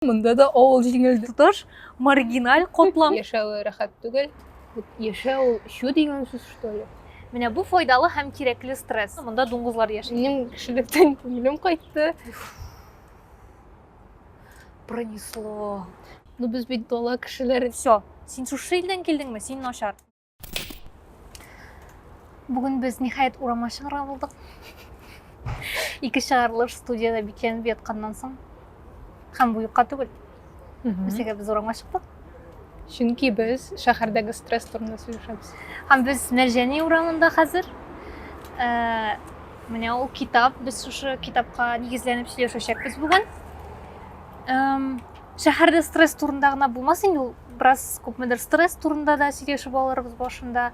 Монда да авыл җиңел тоташ, маргиналь котлам. Яшәве рәхәт түгел. Яшәү чу дигән сүз что ли? Менә бу файдалы һәм кирәкле стресс. Монда дуңгызлар яши. Минем кешелектән күңелем кайтты. Пронесло. Ну без бит дала кешеләре. Все. Син шушы илдән килдеңме? Син начар. Бүген без ниһаять урамга чыгарга булдык. Ике чыгарылыш студияда бикләнеп ятканнан соң һәм бу юкка түгел. Үзегә без урамга чыктык. Чөнки без шәһәрдәге стресс турында сөйләшәбез. Һәм без Мәрҗәни урамында хәзер. Ә, менә ул китап, без шушы китапка нигезләнеп сөйләшәчәкбез бүген. Эм, Шәһәрдә стресс турында гына булмас инде ул, бераз күпмедер стресс турында да сөйләшеп алырбыз башында.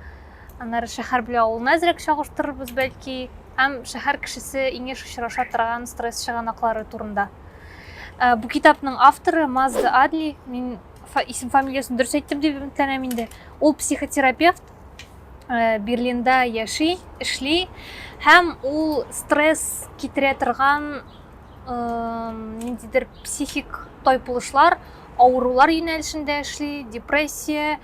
Аннары шәһәр белән авылны әзрәк чагыштырырбыз бәлки, һәм шәһәр кешесе иң еш очраша торган стресс чыганаклары турында. Ә, бу китапның авторы Мазда Адли, мин исем фамилиясен дөрес әйттем дип өметләнәм инде. Ул психотерапевт, Э, берлинда яши эшли һәм ул стресс китерә торган ниндидер психик тайпылышлар, авырулар юнәлешендә эшли, депрессия,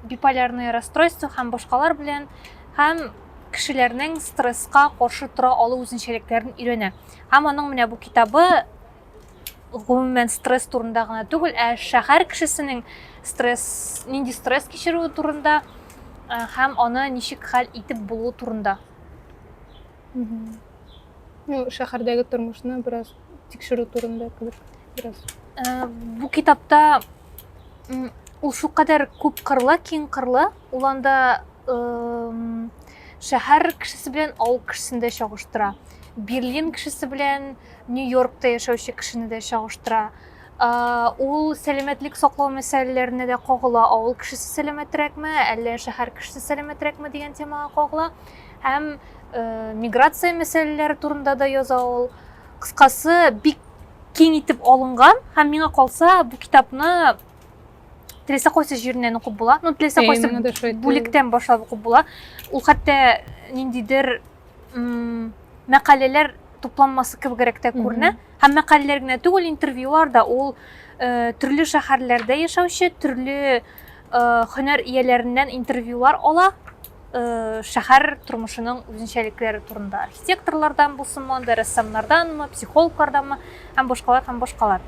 биполярное расстройство һәм башкалар белән һәм кешеләрнең стресска каршы тора алу үзенчәлекләрен өйрәнә. Һәм аның менә бу китабы гомумән стресс турында гына түгел, ә шәһәр кешесенең стресс, нинди стресс кичерүе турында һәм аны ничек хәл итеп булу турында. Ну, шәһәрдәге тормышны бераз тикшерү турында кебек бераз. Э, бу китапта ул шулкадәр күп кырлы, киң кырлы, ул анда шәһәр кешесе белән авыл кешесен дә чагыштыра. Берлин кешесе белән Нью-Йоркта яшәүче кешене дә чагыштыра. Э, ул сәламәтлек саклау мәсьәләләренә дә кагыла. Авыл кешесе сәламәтрәкме, әллә шәһәр кешесе сәламәтрәкме дигән темага кагыла. һәм миграция мәсьәләләре турында да яза ул. Кыскасы, бик киң итеп алынган һәм миңа калса, бу китапны теләсә кайсы җиреннән укып була. Ну, теләсә кайсы бүлектән башлап укып була. Ул хәтта ниндидер мәкаләләр тупланмасы кебегрәк тә күренә. Һәм мәкаләләр генә түгел, интервьюлар да ул э, төрле шәһәрләрдә яшәүче, төрле э, һөнәр ияләреннән интервьюлар ала шәһәр тормышының үзенчәлекләре турында архитекторлардан булсынмы анда рәссамнарданмы психологларданмы һәм башкалар һәм башкалар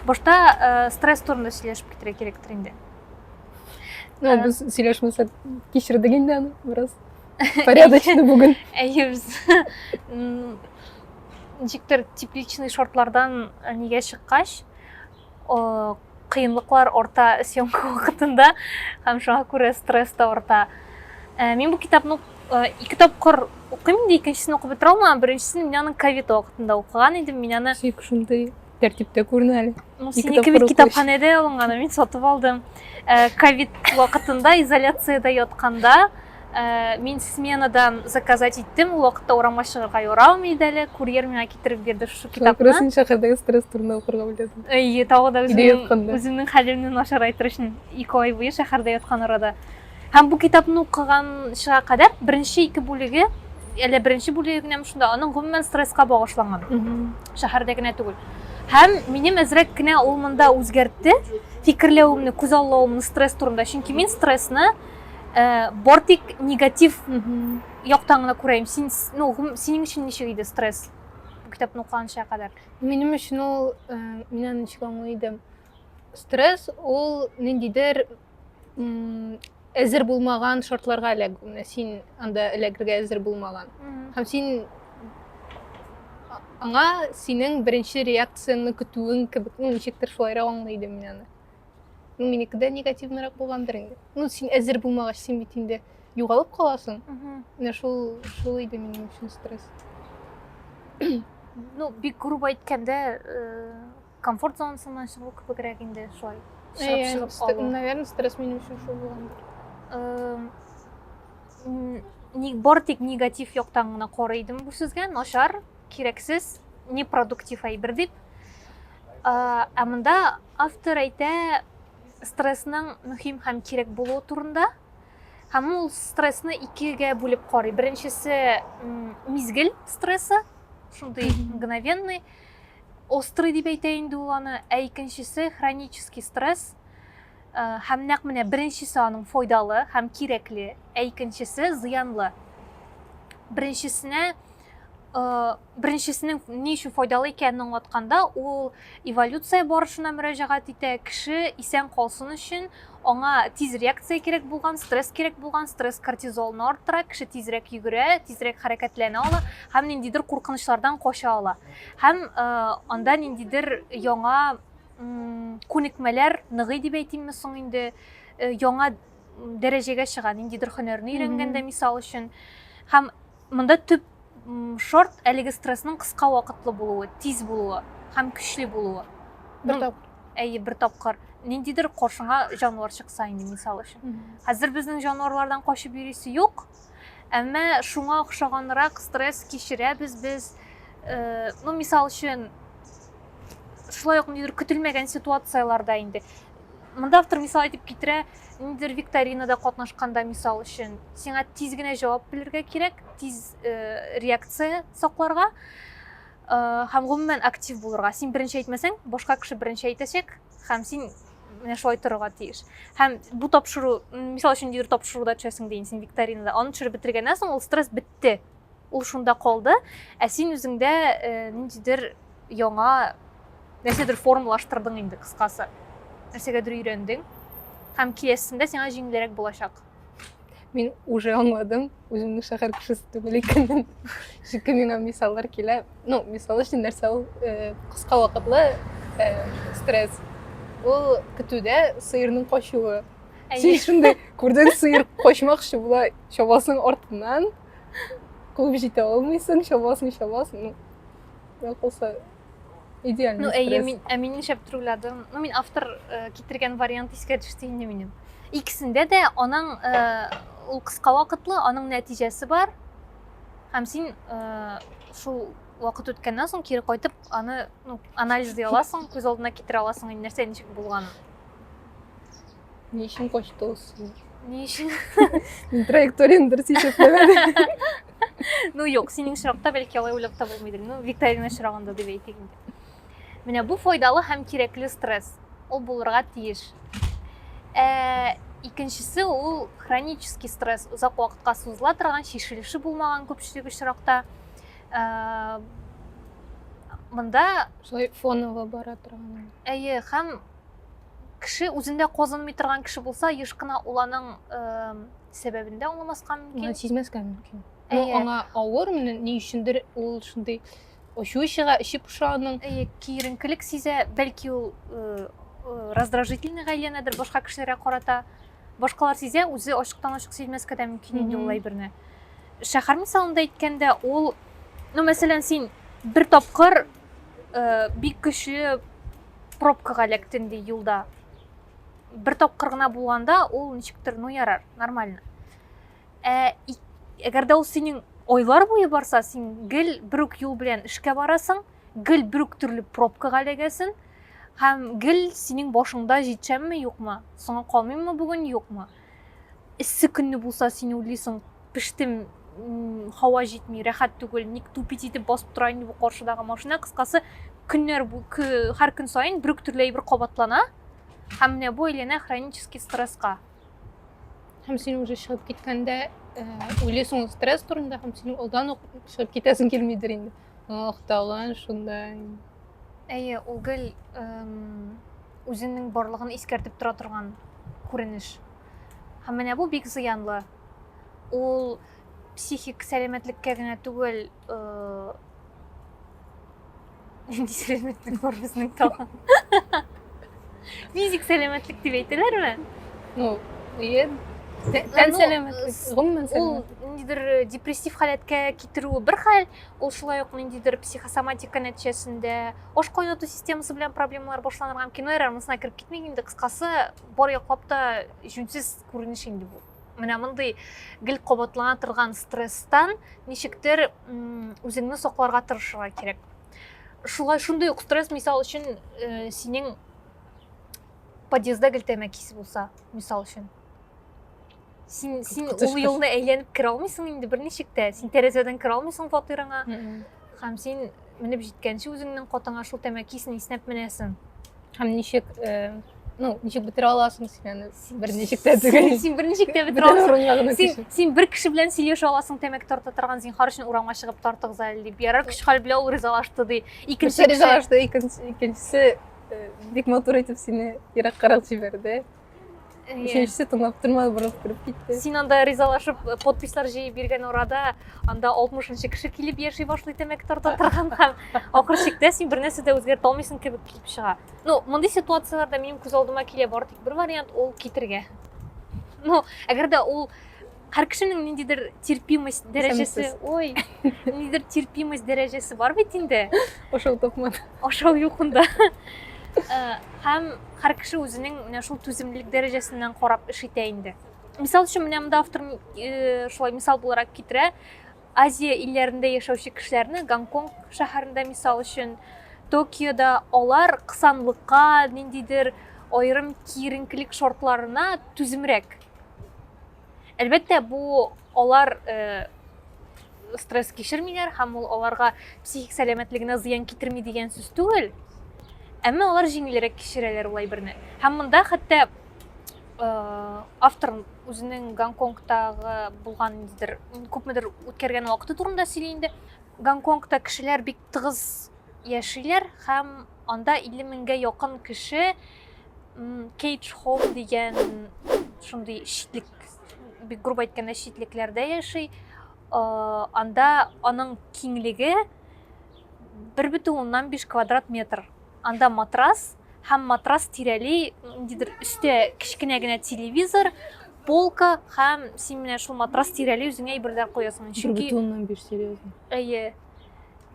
башта стресс турында сөйләшеп китәргә кирәктер инде ну без сөйләшмәсәк кичердек инде аны бераз порядочно бүген әйе без ничектер тепличный шортлардан нигә чыккач кыенлыклар арта съемка вакытында һәм шуңа күрә стресс та арта э, мин бу китапны э, ике тапкыр укыйм инде икенчесен укып бетерә алмаган беренчесен мин аны ковид вакытында укыган идем мин аны шик шундый тәртиптә күренә әле ну синеке бит китапханәдә алынган мин сатып алдым э, ковид вакытында изоляцияда ятканда Ә, мин сменадан заказать иттем, ул вакытта урамга чыгарга ярамый иде әле, курьер миңа китереп бирде шушы Шуңа күрә китапны. син шәһәрдәге стресс турында укырга уйладың. Әйе, тагы да Өйдә үземнең, ятканда. үземнең хәлемне начарайтыр өчен ике ай буе шәһәрдә яткан арада. Һәм бу китапны укыганчыга кадәр беренче ике бүлеге, әле беренче бүлеге генәме шунда, аның гомумән стресска багышланган. Мгм. шәһәрдә генә түгел. Һәм минем әзрәк кенә ул монда үзгәртте фикерләвемне, күзаллавымны стресс турында. Чөнки мин стрессны Э, бар тик негатив яктан гына күрәем син ну синең өчен ничек иде стресс бу китапны укыганча кадәр минем өчен ул э, мин аны ничек аңлый идем стресс ул ниндидер әзер булмаган шартларга эләг син анда эләгергә әзер булмаган һәм син аңа синең беренче реакцияңне көтүең кебек ну ничектер шулайрак аңлый идем мин аны ну меники да негативныйрак булгандыр инде ну син әзер булмагач син бит инде югалып каласың менә шул шул иде минем өчен стресс ну бик грубо әйткәндә э, комфорт зонасыннан чыгу кебегрәк инде шулай чыгып чыгып алу наверное стресс минем өчен шул булгандыр бары тик негатив яктан гына карый идем бу сүзгә начар кирәксез непродуктив әйбер дип Ә монда автор әйтә стрессның мөһим һәм кирәк булуы турында. Һәм ул стрессны икегә бүлеп карый. Беренчесе мизгел стрессы, шундый мгновенный, острый дип әйтә инде ул аны, ә икенчесе хронический стресс. Э, һәм нәкъ менә беренчесе аның файдалы һәм кирәкле, ә икенчесе зыянлы. Беренчесенә э, беренчесенең ни өчен файдалы икәнен аңлатканда, ул эволюция барышына мөрәҗәгать итә, кеше исән калсын өчен аңа тиз реакция кирәк булган, стресс кирәк булган, стресс кортизолны арттыра, кеше тизрәк йөгерә, тизрәк хәрәкәтләнә ала һәм ниндидер куркынычлардан кача ала. Һәм э, анда ниндидер яңа күнекмәләр ныгый дип әйтимме соң инде, э, яңа дәрәҗәгә чыга, ниндидер һөнәрне өйрәнгәндә, мисал өчен. Һәм монда төп шорт әлеге стрессның кыска вакытлы булуы, тиз булуы һәм көчле булуы. Бер тапкыр. Әйе, бер тапкыр. Ниндидер каршыңа җанвар чыкса инде, мисал өчен. Хәзер безнең җанварлардан качып йөрисе юк. Әмма шуңа охшаганрак стресс кичерәбез без. Э, ну, мисал өчен, шулай ук ниндидер көтелмәгән ситуацияләрдә инде Монда автор мисал итеп китерә, ниндидер викторинада катнашканда мисал өчен, сиңа тиз генә җавап белергә кирәк, тиз э, реакция сакларга э, һәм гомумән актив булырга. Син беренче әйтмәсәң, башка кеше беренче әйтәчәк һәм син менә шулай торырга тиеш. Һәм бу тапшыру, мисал өчен, ниндидер тапшыруда төшәсең дә инде син викторинада, аны төшереп бетергәннән соң ул стресс бетте. Ул шунда калды, ә син үзеңдә э, ниндидер яңа нәрсәдер формалаштырдың инде кыскасы. Нәрсәгәдер өйрәндең һәм киләсендә сиңа җиңелрәк булачак. Мин уже аңладым, үземне шәһәр кешесе түгел икәнен. Чөнки миңа мисаллар килә. Ну, мисал өчен нәрсә ул э, кыска вакытлы э, стресс. Ул көтүдә сыерның качуы. Син шундый күрдең сыер качмакчы була, чабасың артыннан, куып җитә алмыйсың чабасың чабасың ну я кылса идеальный ну әйе мин ә мин нишләп трюкладым ну мин автор э, китергән вариант искә төште инде минем икесендә дә аның э, ул кыска вакытлы аның нәтиҗәсе бар һәм син э, шул вакыт үткәннән соң кире кайтып аны ну анализлый аласың күз алдына китерә аласың нәрсә ничек булганын Ни өчен качты ул синнән? Ни өчен? Мин траекторияне дөрес исәпләмәдем. Ну, юк, синең очракта бәлки алай уйлап та булмыйдыр. Ну, викторина очрагында дип әйтик инде. Менә бу файдалы һәм кирәкле стресс. Ул булырга тиеш. Ә, икенчесе ул хронический стресс, озак вакытка сузыла торган, шешелеше булмаган күпчелек очракта. Ә, монда шулай фоново бара торган. Әйе, һәм кеше үзендә казынмый торган кеше булса еш кына ул аның сәбәбен дә аңламаска мөмкин сизмәскә мөмкин но аңа авыр менә ни өчендер ул шундый ачуы чыга эче поша аның әйе киеренкелек сизә бәлки ул раздражительный әйләнәдер башка кешеләргә карата башкалар сизә үзе ачыктан ачык сизмәскә дә мөмкин инде ул әйберне шәһәр мисалында әйткәндә ул ну мәсәлән син бер тапкыр э, бик көчле пробкага эләктем ди юлда бер тапкыр гына булганда ул ничектер ну ярар нормально ә әгәр дә ул синең айлар буе барса син гел бер үк юл белән эшкә барасың гел бер үк төрле пробкага эләгәсең һәм гел синең башыңда җитсәмме юкмы соңа калмыйммы бүген юкмы эссе көнне булса син уйлыйсың пештем һава җитми рәхәт түгел ник тупить итеп басып тора инде бу каршыдагы машина кыскасы көннәр һәр көн саен бер үк төрле әйбер кабатлана һәм менә бу әйләнә хронический стресска һәм син уже чыгып киткәндә уйлыйсың стресс турында һәм син алдан ук чыгып китәсең килмидер инде Ох, талан шундай. Әйе, ул гел үзенең барлыгын искәртеп тора торган күренеш. Һәм менә бу бик зыянлы. Ул психик сәламәтлеккә генә түгел, нинди сәламәтлек бар безнең тагын? Физик сәламәтлек дип әйтәләрме? Ну, ие, тән сәламәтлек, гомумән сәламәтлек. Ул ниндидер депрессив халәткә китерүе бер хәл, Ул шулай ук ниндидер психосоматика нәтиҗәсендә аш кайнату системасы белән проблемалар башланырга мөмкин. Эрр монысына кереп китмик инде, кыскасы, бар яклап та җүнсез күренеш инде бу. Менә мондый гел кабатлана торган стресстан ничектер үзеңне сакларга тырышырга кирәк. Шулай шундый ук стресс мисал өчен э, синең подъездда гел тәмәке исе булса, мисал өчен. син син ул юлны әйләнеп керә алмыйсың инде берничек тә син тәрәзәдән керә алмыйсың фатирыңа һәм син менеп җиткәнче үзеңнең катыңа шул тәмәкесен иснәп менәсең һәм ничек э, ну ничек бетерә аласың син аны берничек тә түгел син берничек тә бетерә аласың син син бер кеше белән сөйләшә аласың тәмәке тарта торган зинһар өчен урамга чыгып тартыгыз әле дип ярар көч хәл белән ул ризалашты ди икенче ризалашты икенчесе э, бик матур итеп сине ераккарак җибәрде Өченчесе тыңлап тормады, борылып кереп китте. Син анда ризалашып э, подпислар җыеп биргән арада, анда 60-нчы кеше килеп яши башлый тәмәке тарта торган һәм ахыр чиктә син бер нәрсә дә үзгәртә алмыйсың кебек килеп чыга. Ну, мондый ситуацияләрдә минем күз алдыма килә бары тик бер вариант, ул китергә. Ну, әгәр дә ул Һәр кешенең ниндидер терпимость дәрәҗәсе, ой, ниндидер терпимость дәрәҗәсе бар бит инде. Ашау токман. Ашау юкында. Э, һәм һәр кеше үзенең менә шул түземлелек дәрәҗәсеннән карап эш итә инде. Мисал өчен менә монда автор э, шулай мисал буларак китерә. Азия илләрендә яшәүче кешеләрне Гонконг шәһәрендә мисал өчен Токиода алар кысанлыкка, ниндидер аерым киеренкелек шартларына түземрәк Әлбәттә, бу алар э, стресс кичермиләр һәм ул аларга психик сәламәтлегенә зыян китерми дигән сүз түгел. Әмма алар җиңелрәк кичерәләр ул әйберне. Һәм монда хәтта э, автор үзенең Гонконгтагы булган ниндидер күпмедер үткәргән вакыты турында сөйли инде. Гонконгта кешеләр бик тыгыз яшиләр һәм анда 50 меңгә якын кеше кейдж хоум дигән шундый шитлек бик грубо әйткәндә шитлекләрдә яши анда аның киңлеге бер бөтен уннан биш квадрат метр анда матрас һәм матрас тирәли ниндидер өстә кечкенә генә телевизор полка һәм син менә шул матрас тирәли үзеңә әйберләр куясың чөнки бер бөтен уннан биш серьезно әйе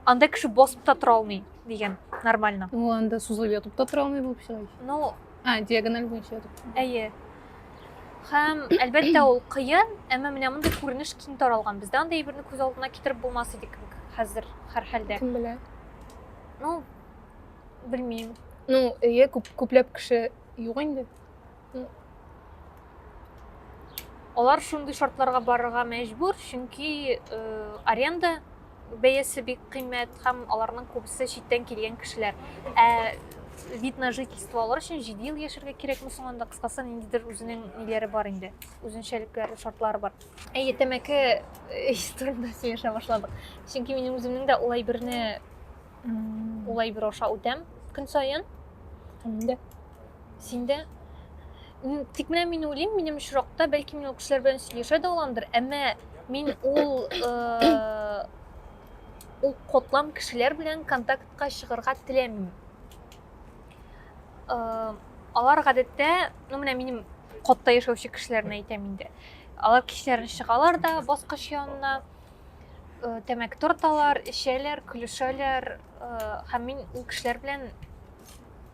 Анда кеше басып та тора алмый дигән, нормально. Ну, анда сузылып ятып та тора алмый булып чыга. Ну, а, диагональ буенча ятып. Әйе. Һәм, әлбәттә, ул кыен, әмма менә мондый күренеш киң таралган. Бездә андый әйберне күз алдына китереп булмас иде кебек хәзер һәр хәлдә. Кем белә? Ну, белмим. Ну, әйе, күп, күпләп кеше юк инде. Алар шундый шартларга барырга мәҗбүр, чөнки э, аренда бәясе бик кыйммәт һәм аларның күбесе читтән килгән кешеләр. Ә вид на жительство алар өчен 7 ел яшәргә кирәкме соң анда кыскасы ниндидер үзенең ниләре бар инде, үзенчәлекләре, шартлары бар. Әйе, тәмәке э, турында сөйләшә башладык. Чөнки минем үземнең дә улай берне Ул әйбер аша үтәм көн саен. Инде. Синдә тик менә мин уйлыйм, минем очракта бәлки мин ул кешеләр белән сөйләшә дә аламдыр, әмма мин ул э, ул котлам кешеләр белән контактка чыгарга теләмим. Э, алар гадәттә, ну менә минем котта яшәүче кешеләрне әйтәм инде. Алар кичләрен чыгалар да баскыч янына э, тәмәке тарталар, эчәләр, көлешәләр, э, һәм мин ул кешеләр белән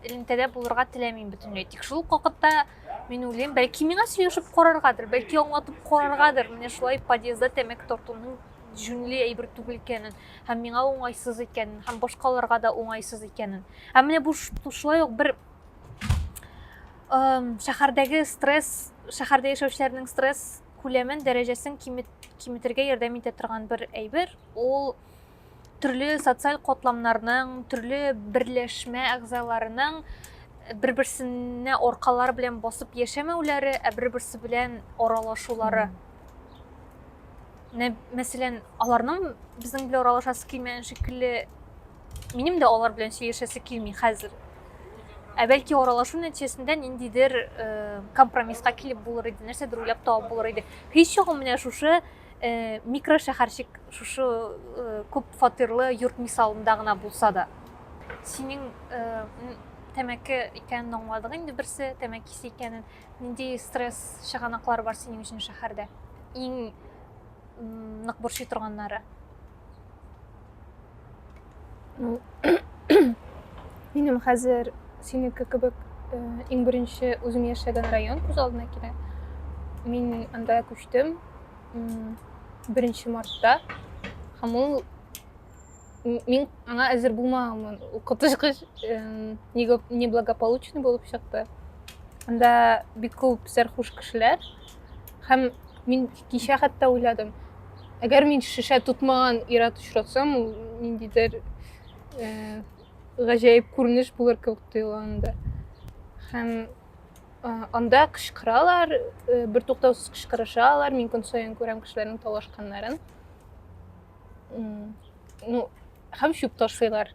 элемтәдә булырга теләмим бөтенләй. Тик шул вакытта мин уйлыйм, бәлки миңа сөйләшеп караргадыр, бәлки аңлатып караргадыр, менә шулай подъездда тәмәке тартуның җүнле әйбер түгел икәнен һәм миңа уңайсыз икәнен һәм башкаларга да уңайсыз икәнен ә менә бу шулай ук бер шәһәрдәге стресс шәһәрдә яшәүчеләрнең стресс күләмен, дәрәҗәсен киметергә ярдәм итә торган бер әйбер. Ул төрле социаль катламнарның, төрле берләшмә әгъзаларының бер-берсенә аркалары белән басып яшәмәүләре, ә бер-берсе белән аралашулары. Менә, мәсәлән, аларның безнең белән аралашасы килмәгән шикелле Минем дә алар белән сөйләшәсе килми хәзер. Ә бәлки аралашу нәтиҗәсендә ниндидер э, компромисска килеп булыр иде, нәрсәдер уйлап табып булыр иде. Һич югы менә шушы э, микрошәһәрчек, шушы э, күп фатирлы йорт мисалында гына булса да. Синең э, тәмәке икәнен аңладык инде берсе, тәмәкесе икәнен. Нинди стресс чыганаклары бар синең өчен шәһәрдә? Иң нык борчый торганнары? Ну, минем хәзер синеке кебек э, иң беренче үзем яшәгән район күз алдына килә. Мин анда күчтем беренче мартта һәм ул мин аңа әзер булмаганмын ул коточкыч неблагополучный булып чыкты анда бик күп сәрхуш кешеләр һәм мин Кичә хәтта уйладым. Әгәр мин шешә тотмаган ир-ат очратсам, ул ниндидер э, гаҗәеп күренеш булыр кебек тоела анда. Һәм э, анда кычкыралар, э, бертуктаусыз кычкырышалар. Мин көн саен күрәм кешеләрнең талашканнарын. М, Ну, һәм чүп ташлыйлар.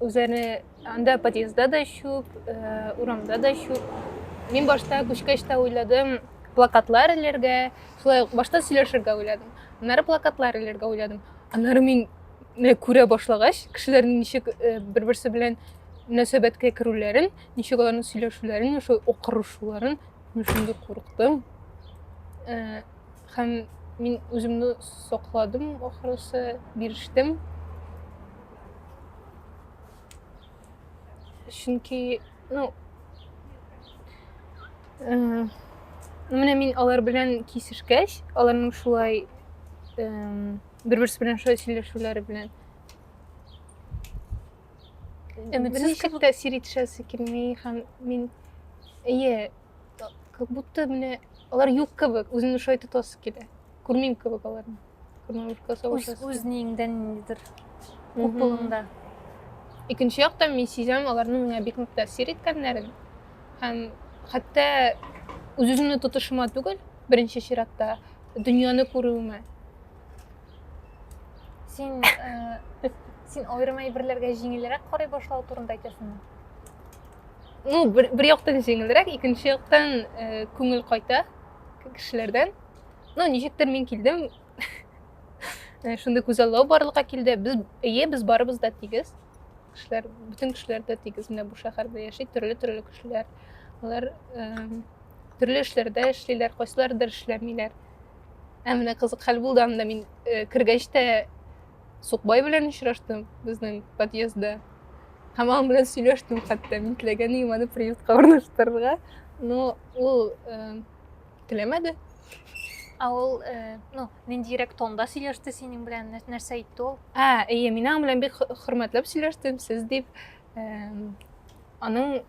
үзләренә анда подъездда да чүп, э, урамда да чүп. Мин башта күчкәч тә уйладым, плакатлар эләргә, шулай ук башта сөйләшергә уйладым. Аннары плакатлар эләргә уйладым. Аннары мин менә күрә башлагач, кешеләрнең ничек э, бер-берсе белән мөнәсәбәткә керүләрен, ничек аларның сөйләшүләрен, шул окырышуларын мин шундый курыктым. Э, Һәм мин үземне сакладым, ахрысы, бирештем. Чөнки, ну, э, менә мин алар белән кисешкәч, аларның шулай э, бер-берсе белән шулай сөйләшүләре белән Өметсез кебек тәэсир итешәсе килми һәм мин әйе как будто менә алар юк кебек үземне шулай тотасы килә күрмим кебек аларны үзнеңдән ниндидер купылыңда икенче яктан мин сизәм аларның миңа бик нык тәэсир иткәннәрен һәм хәтта үз үземне тотышыма түгел беренче чиратта дөньяны күрүемә син э, син аерым әйберләргә җиңелрәк карый башлау турында әйтәсеңме ну бер, бер яктан җиңелрәк икенче яктан э, күңел кайта кешеләрдән ну ничектер мин килдем э, шундый күзаллау барлыкка килде без әйе без барыбыз да тигез кешеләр бөтен кешеләр дә тигез менә бу шәһәрдә яши төрле төрле кешеләр алар э, төрле эшләрдә эшлиләр кайсылардыр эшләмиләр ә менә кызык хәл булды анда мин э, кергәч тә Сукбай белән очраштым безнең подъездда. Һәм аның белән сөйләштем хәтта. Мин теләгән идем аны приютка урнаштырырга, но ул э, теләмәде. Ә ул, э, ну, ниндирәк тонда сөйләште синең белән, нәр- нәрсә әйтте ул? Ә, эйе, мин аның белән бик хө- хөрмәтләп сөйләштем, сез дип. Эм, Аның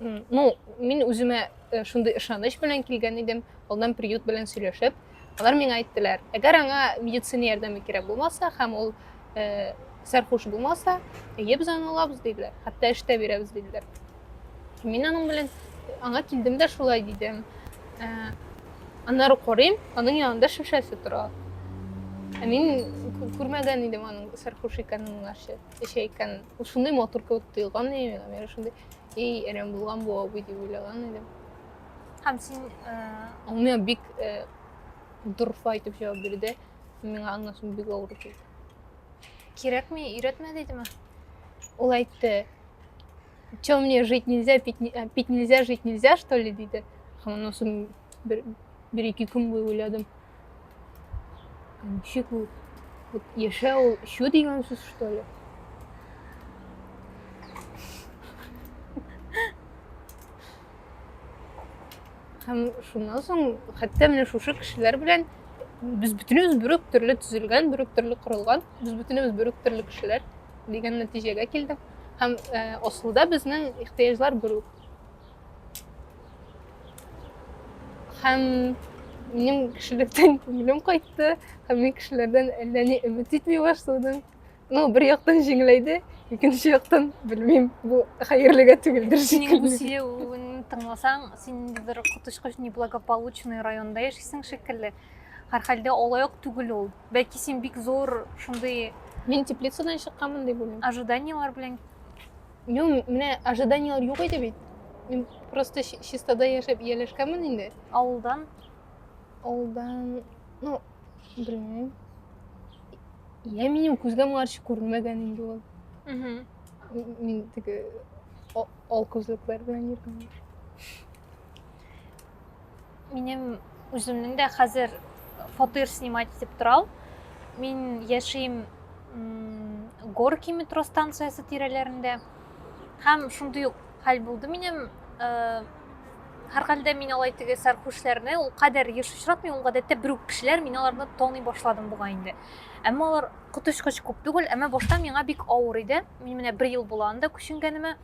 ну мин үземә э, шундый ышаныч белән килгән идем алдан приют белән сөйләшеп алар миңа әйттеләр әгәр аңа медицина ярдәме кирәк булмаса һәм ул э, сәрхуш булмаса әйе без аны алабыз диделәр хәтта эштә бирәбез диделәр мин аның белән аңа килдем дә шулай дидем э, аннары карыйм аның янында шешәсе тора ә мин күрмәгән идем аның сәрхуш икәнен моңарчы Эчә икән. Шундый матур кебек тоелган иде миңа. Мин шундый, ей, әрәм булган бу абый дип уйлаган идем. Һәм син... Э, Ул миңа бик э, дорфа итеп җавап бирде. Миңа аннан соң бик авыр килде. Кирәкми, өйрәтмә дидеме? Ул әйтте, что мне жить нельзя, пить, э, пить нельзя, жить нельзя, что ли, диде. Һәм аннан соң бер, бер ике көн буе уйладым. Ничек ул? Вот яшә ул чү дигән сүз что ли? Һәм шуннан соң хәтта менә шушы кешеләр белән без бөтенебез бүрек төрле төзелгән, бүрек төрле корылган, без бөтенебез бүрек төрле кешеләр дигән нәтиҗәгә килдек. Һәм э, асылда безнең ихтыяҗлар бүрек. Һәм минем кешелектән күңелем кайтты, һәм мин кешеләрдән әллә ни өмет итми башладым. Ну, бер яктан җиңеләйде, икенче яктан, белмим, бу хәерлегә түгелдер шикелле. Синең тыңласаң, син ниндидер коточкыч неблагополучный районда яшисең шикелле. Һәр хәлдә алай ук түгел ул. Бәлки син бик зур шундый Мин теплицадан чыкканмын дип уйлыйм. Ожиданиеләр белән Ну, менә ожиданияләр юк иде бит. Мин просто чистада яшәп ияләшкәнмен инде. Авылдан? Авылдан, ну, белмим. Я минем күзгә моңарчы күренмәгән инде ул. Мин теге ал күзлекләр белән йөргән. Минем үземнең дә хәзер фатир снимать итеп торам. Мин яшим Горки метро станциясе тирәләрендә. Һәм шундый ук хәл булды минем. Э, һәрхәлдә мин алай теге сәрхүшләрне ул кадәр еш очратмыйм, ул гадәттә бер үк кешеләр, мин аларны таный башладым бугай инде. Әмма алар коточкыч күп түгел, әмма башта миңа бик авыр иде. Мин менә бер ел була анда күченгәнемә.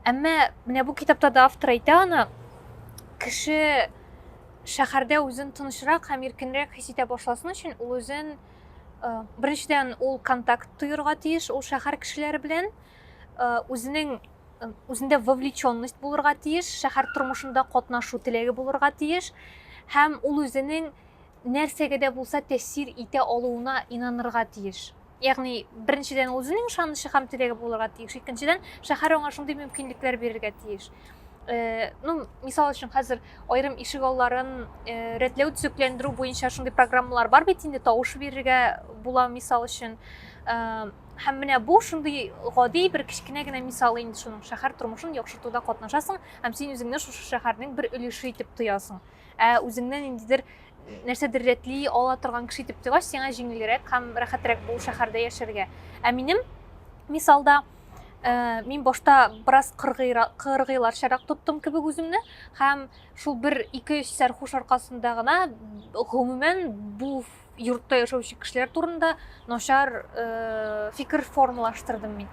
Әмма менә бу китапта да автор әйтә аны, кеше шәһәрдә үзен тынычрак һәм иркенрәк хис итә башласын өчен ул үзен э, беренчедән ул контакт тоерга тиеш ул шәһәр кешеләре белән э, үзенең э, үзендә вовлеченность булырга тиеш шәһәр тормышында катнашу теләге булырга тиеш һәм ул үзенең нәрсәгә дә булса тәэсир итә алуына инанырга тиеш Ягъни, беренчедән, ул үзенең ышанычы һәм теләге булырга тиеш. Икенчедән, шәһәр аңа шундый мөмкинлекләр бирергә тиеш. Э, ну, мисал өчен хәзер аерым ишек алларын э, рәтләү төзекләндерү буенча шундый программалар бар бит инде тавыш бирергә була мисал өчен э, һәм менә бу шундый гади бер кечкенә генә мисал инде шуның шәһәр тормышын яхшыртуда катнашасың һәм син үзеңне шушы шәһәрнең бер өлеше итеп тоясың ә үзеңне ниндидер нәрсәдер рәтли ала торган кеше итеп торгач сиңа җиңелрәк һәм рәхәтрәк бу шәһәрдә яшәргә ә минем мисалда ә, мин башта бераз кыргыйларчарак тоттым кебек үземне һәм шул бер ике өч сәрхуш аркасында гына гомумән бу йортта яшәүче кешеләр турында начар ә, фикер формалаштырдым мин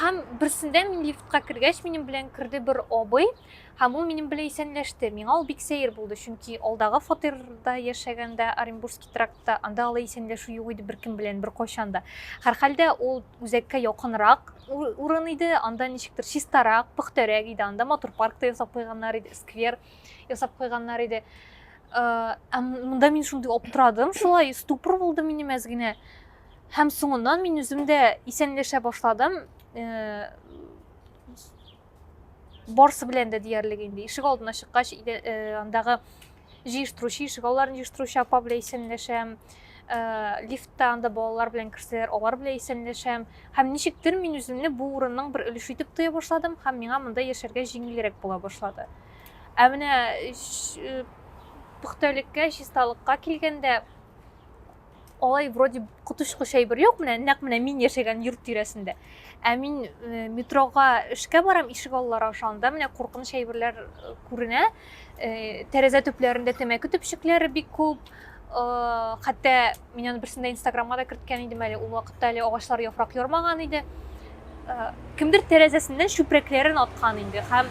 һәм берсендә мин лифтка кергәч минем белән керде бер абый Һәм ул минем белән исәнләште. Миңа ул бик сәер булды, чөнки алдагы фатирда яшәгәндә, Оренбургский трактта, анда алай исәнләшү юк иде беркем белән, беркайчан да. Һәрхәлдә, ул үзәккә якынрак урын иде, анда ничектер чистарак, пөхтәрәк иде, анда матур парк та ясап куйганнар иде, сквер ясап куйганнар иде. Ә монда мин шундый аптырадым, шулай ступор булды минем әз генә. Һәм соңыннан мин үзем дә исәнләшә башладым. барсы белән дә диярлек инде ишек алдына чыккач э, андагы җыештыручы ишек алларын җыештыручы апа белән исәнләшәм э, лифтта анда балалар белән керсәләр алар белән исәнләшәм һәм ничектер мин үземне бу урынның бер өлеше итеп тоя башладым һәм миңа монда яшәргә җиңелрәк була башлады ә менә э, пөхтәлеккә чисталыкка килгәндә алай вроде коточкыч әйбер юк менә нәкъ менә мин яшәгән йорт тирәсендә ә мин э, метрога эшкә барам ишек аллары аша анда менә куркыныч әйберләр э, күренә э, тәрәзә төпләрендә тәмәке төпчекләре бик күп хәтта мин аны берсендә инстаграмга да керткән идем әле ул вакытта әле агачлар яфрак ярмаган иде Кемдер тәрәзәсеннән чүпрәкләрен аткан инде һәм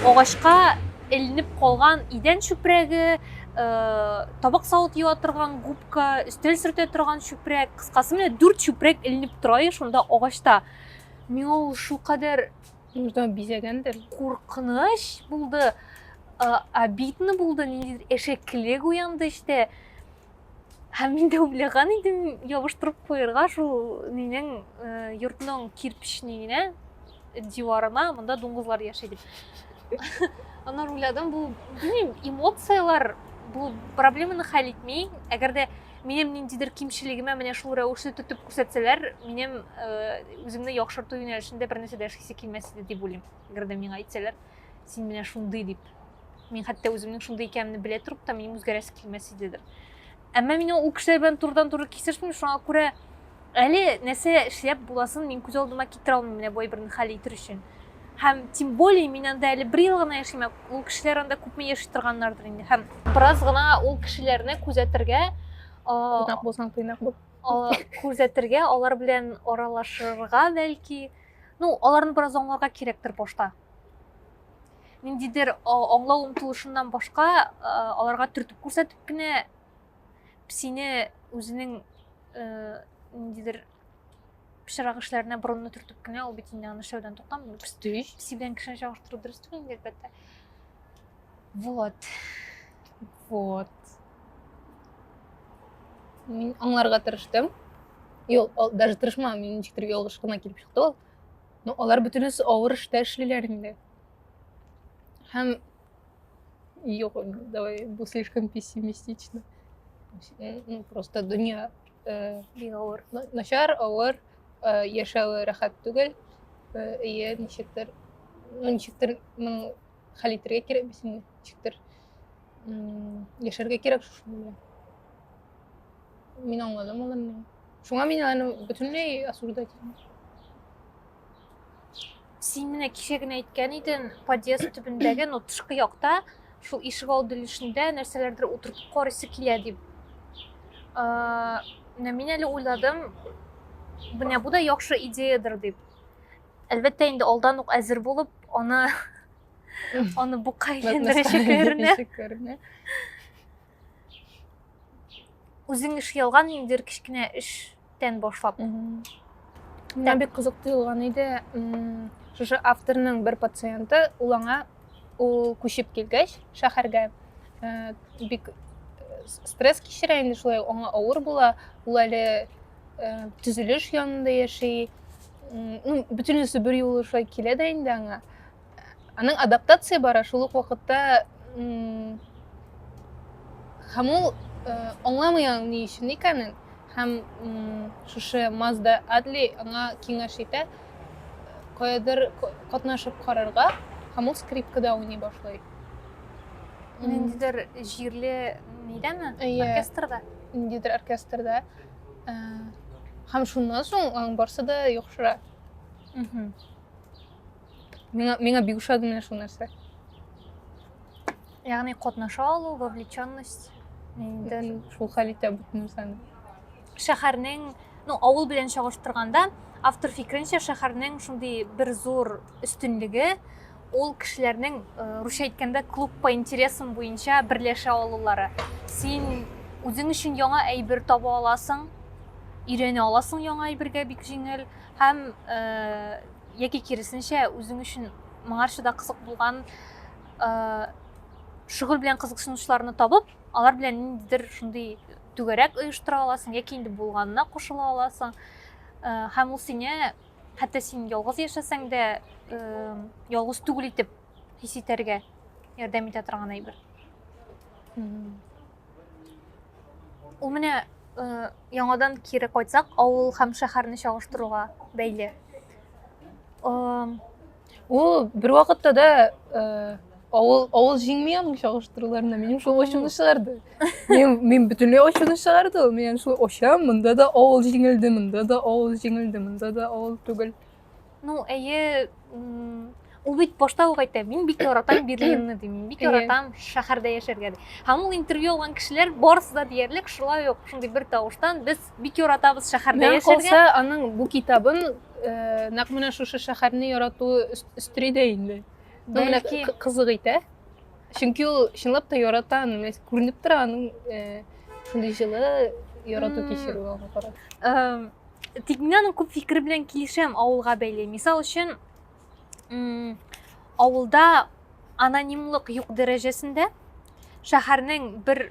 агачка эленеп калган идән чүпрәге, табак савыт юа торган губка, өстәл сөртә торган чүпрәк, кыскасы менә дүрт чүпрәк эленеп тора шунда агачта. Миңа ул шулкадәр Нуждан бизәгәндер. Куркыныч булды, обидно булды, ниндидер әшәкелек уянды эчтә. Һәм мин дә уйлаган идем, ябыштырып куярга шул минең э, йортның кирпичнигенә, диварына, монда дуңгызлар яши дип. Аннан уйладым, бу, белмим, эмоцияләр бу проблеманы хәл итми. Әгәр дә минем ниндидер кимчелегемә менә шул рәвешле тотып күрсәтсәләр, минем э, үземне яхшырту юнәлешендә бер нәрсә дә эшлисе килмәс иде дип уйлыйм. Әгәр дә миңа әйтсәләр, син менә шундый дип. мин хәтта үземнең шундый икәнемне белә торып та минем үзгәрәсе килмәс идедер әмма мин ул кешеләр белән турыдан туры кисешмим шуңа күрә әле нәрсә эшләп буласын мин күз алдыма китерә алмыйм менә бай берне хәл итер өчен һәм тем более мин анда әле бер ел гына яшим ул кешеләр анда күпме яши торганнардыр инде һәм бераз гына ул кешеләрне күзәтергә тыйнак булсаң тыйнак бул күзәтергә алар белән аралашырга бәлки ну аларны бераз аңларга кирәктер башта ниндидер аңлау омтылышыннан башка аларга төртеп күрсәтеп кенә сине үзенең ниндидер пычрак эшләренә борынны төртеп кенә ул бит инде аны эшләүдән туктамый песи белән кешене чагыштыру дөрес түгел инде әлбәттә вот вот мин аңларга тырыштым даже тырышмадым мин ничектер ялгыш кына килеп чыкты ул Ну, алар бөтенесе авыр эштә эшлиләр инде. Һәм юк, давай, бу слишком пессимистично. Ну, просто дөнья э, бик авыр. Начар, авыр, э, яшәве рәхәт түгел. Э, әйе, ничектер, ну, ничектер, ну, хәл итәргә кирәк бит инде, ничектер яшәргә кирәк шушы белән. Мин аңладым ул инде. Шуңа мин аны бөтенләй осуждать итмим. Син менә кичә генә әйткән идең, подъезд төбендәге, ну, тышкы якта, шул ишек алды өлешендә нәрсәләрдер утыртып карыйсы килә дип. Ә, менә мин әле уйладым, менә бу да яхшы идеядер дип. Әлбәттә, инде алдан ук әзер булып, аны аны бука әйләндерәчәкләренә. үзең эшли алган ниндидер кечкенә эштән башлап миңа бик кызык тоелган иде шушы авторның бер пациенты ул аңа ул күчеп килгәч шәһәргә э, бик э, стресс кичерә инде шулай аңа авыр була ул әле э, төзелеш янында яши ну бөтенесе бер юлы шулай килә дә инде аңа аның адаптация бара шул ук вакытта һәм ул аңламый аның ни өчен икәнен һәм шушы мазда адли аңа киңәш итә каядыр катнашып карарга һәм ул скрипкада уйный башлый ниндидер җирле нидәме оркестрда ниндидер оркестрда һәм шуннан соң аның барысы да яхшыра Миңа, миңа бик ошады менә шул нәрсә. Ягъни катнаша алу, вовлеченность. Инде шул хәл итә бөтен нәрсәне. Шәһәрнең, ну, авыл белән чагыштырганда, автор фикеренчә, шәһәрнең шундый бер зур өстенлеге ул кешеләрнең, э, русча әйткәндә, клуб по интересам буенча берләшә алулары. Син үзең өчен яңа әйбер таба аласың, өйрәнә аласың яңа әйбергә бик җиңел һәм э, яки киресенчә үзең өчен моңарчы да кызык булган шөгыль белән кызыксынучыларны табып алар белән ниндидер шундый түгәрәк оештыра аласың яки инде булганына кушыла аласың һәм ул сине хәтта син ялгыз яшәсәң дә ялгыз түгел итеп хис итәргә ярдәм итә торган әйбер Ул менә э, яңадан кире кайтсак, авыл һәм шәһәрне чагыштыруга бәйле. Ул бер вакытта да э, авыл авыл җиңми аның чагыштыруларына. Минем шул очуны чыгарды. Мин мин бөтенләй очуны чыгарды. Мин шул очам, монда да авыл җиңелде, монда да авыл җиңелде, монда да авыл түгел. Ну, әйе, ул бит башта ук әйтә, мин бик яратам Берлинны ди, мин бик яратам шәһәрдә яшәргә ди. Һәм ул интервью алган кешеләр барысы да диярлек шулай ук шундый бер тавыштан без бик яратабыз шәһәрдә яшәргә. Калса аның бу китабын э, нәкъ менә шушы шәһәрне ярату өстери дә инде. Ну, менә кызык итә. Чөнки ул чынлап та ярата аны, күренеп тора аның э, шундый җылы ярату кичерүе аңа карата. Тик мин аның күп фикере белән килешәм авылга бәйле. Мисал өчен, авылда анонимлык юк дәрәҗәсендә шәһәрнең бер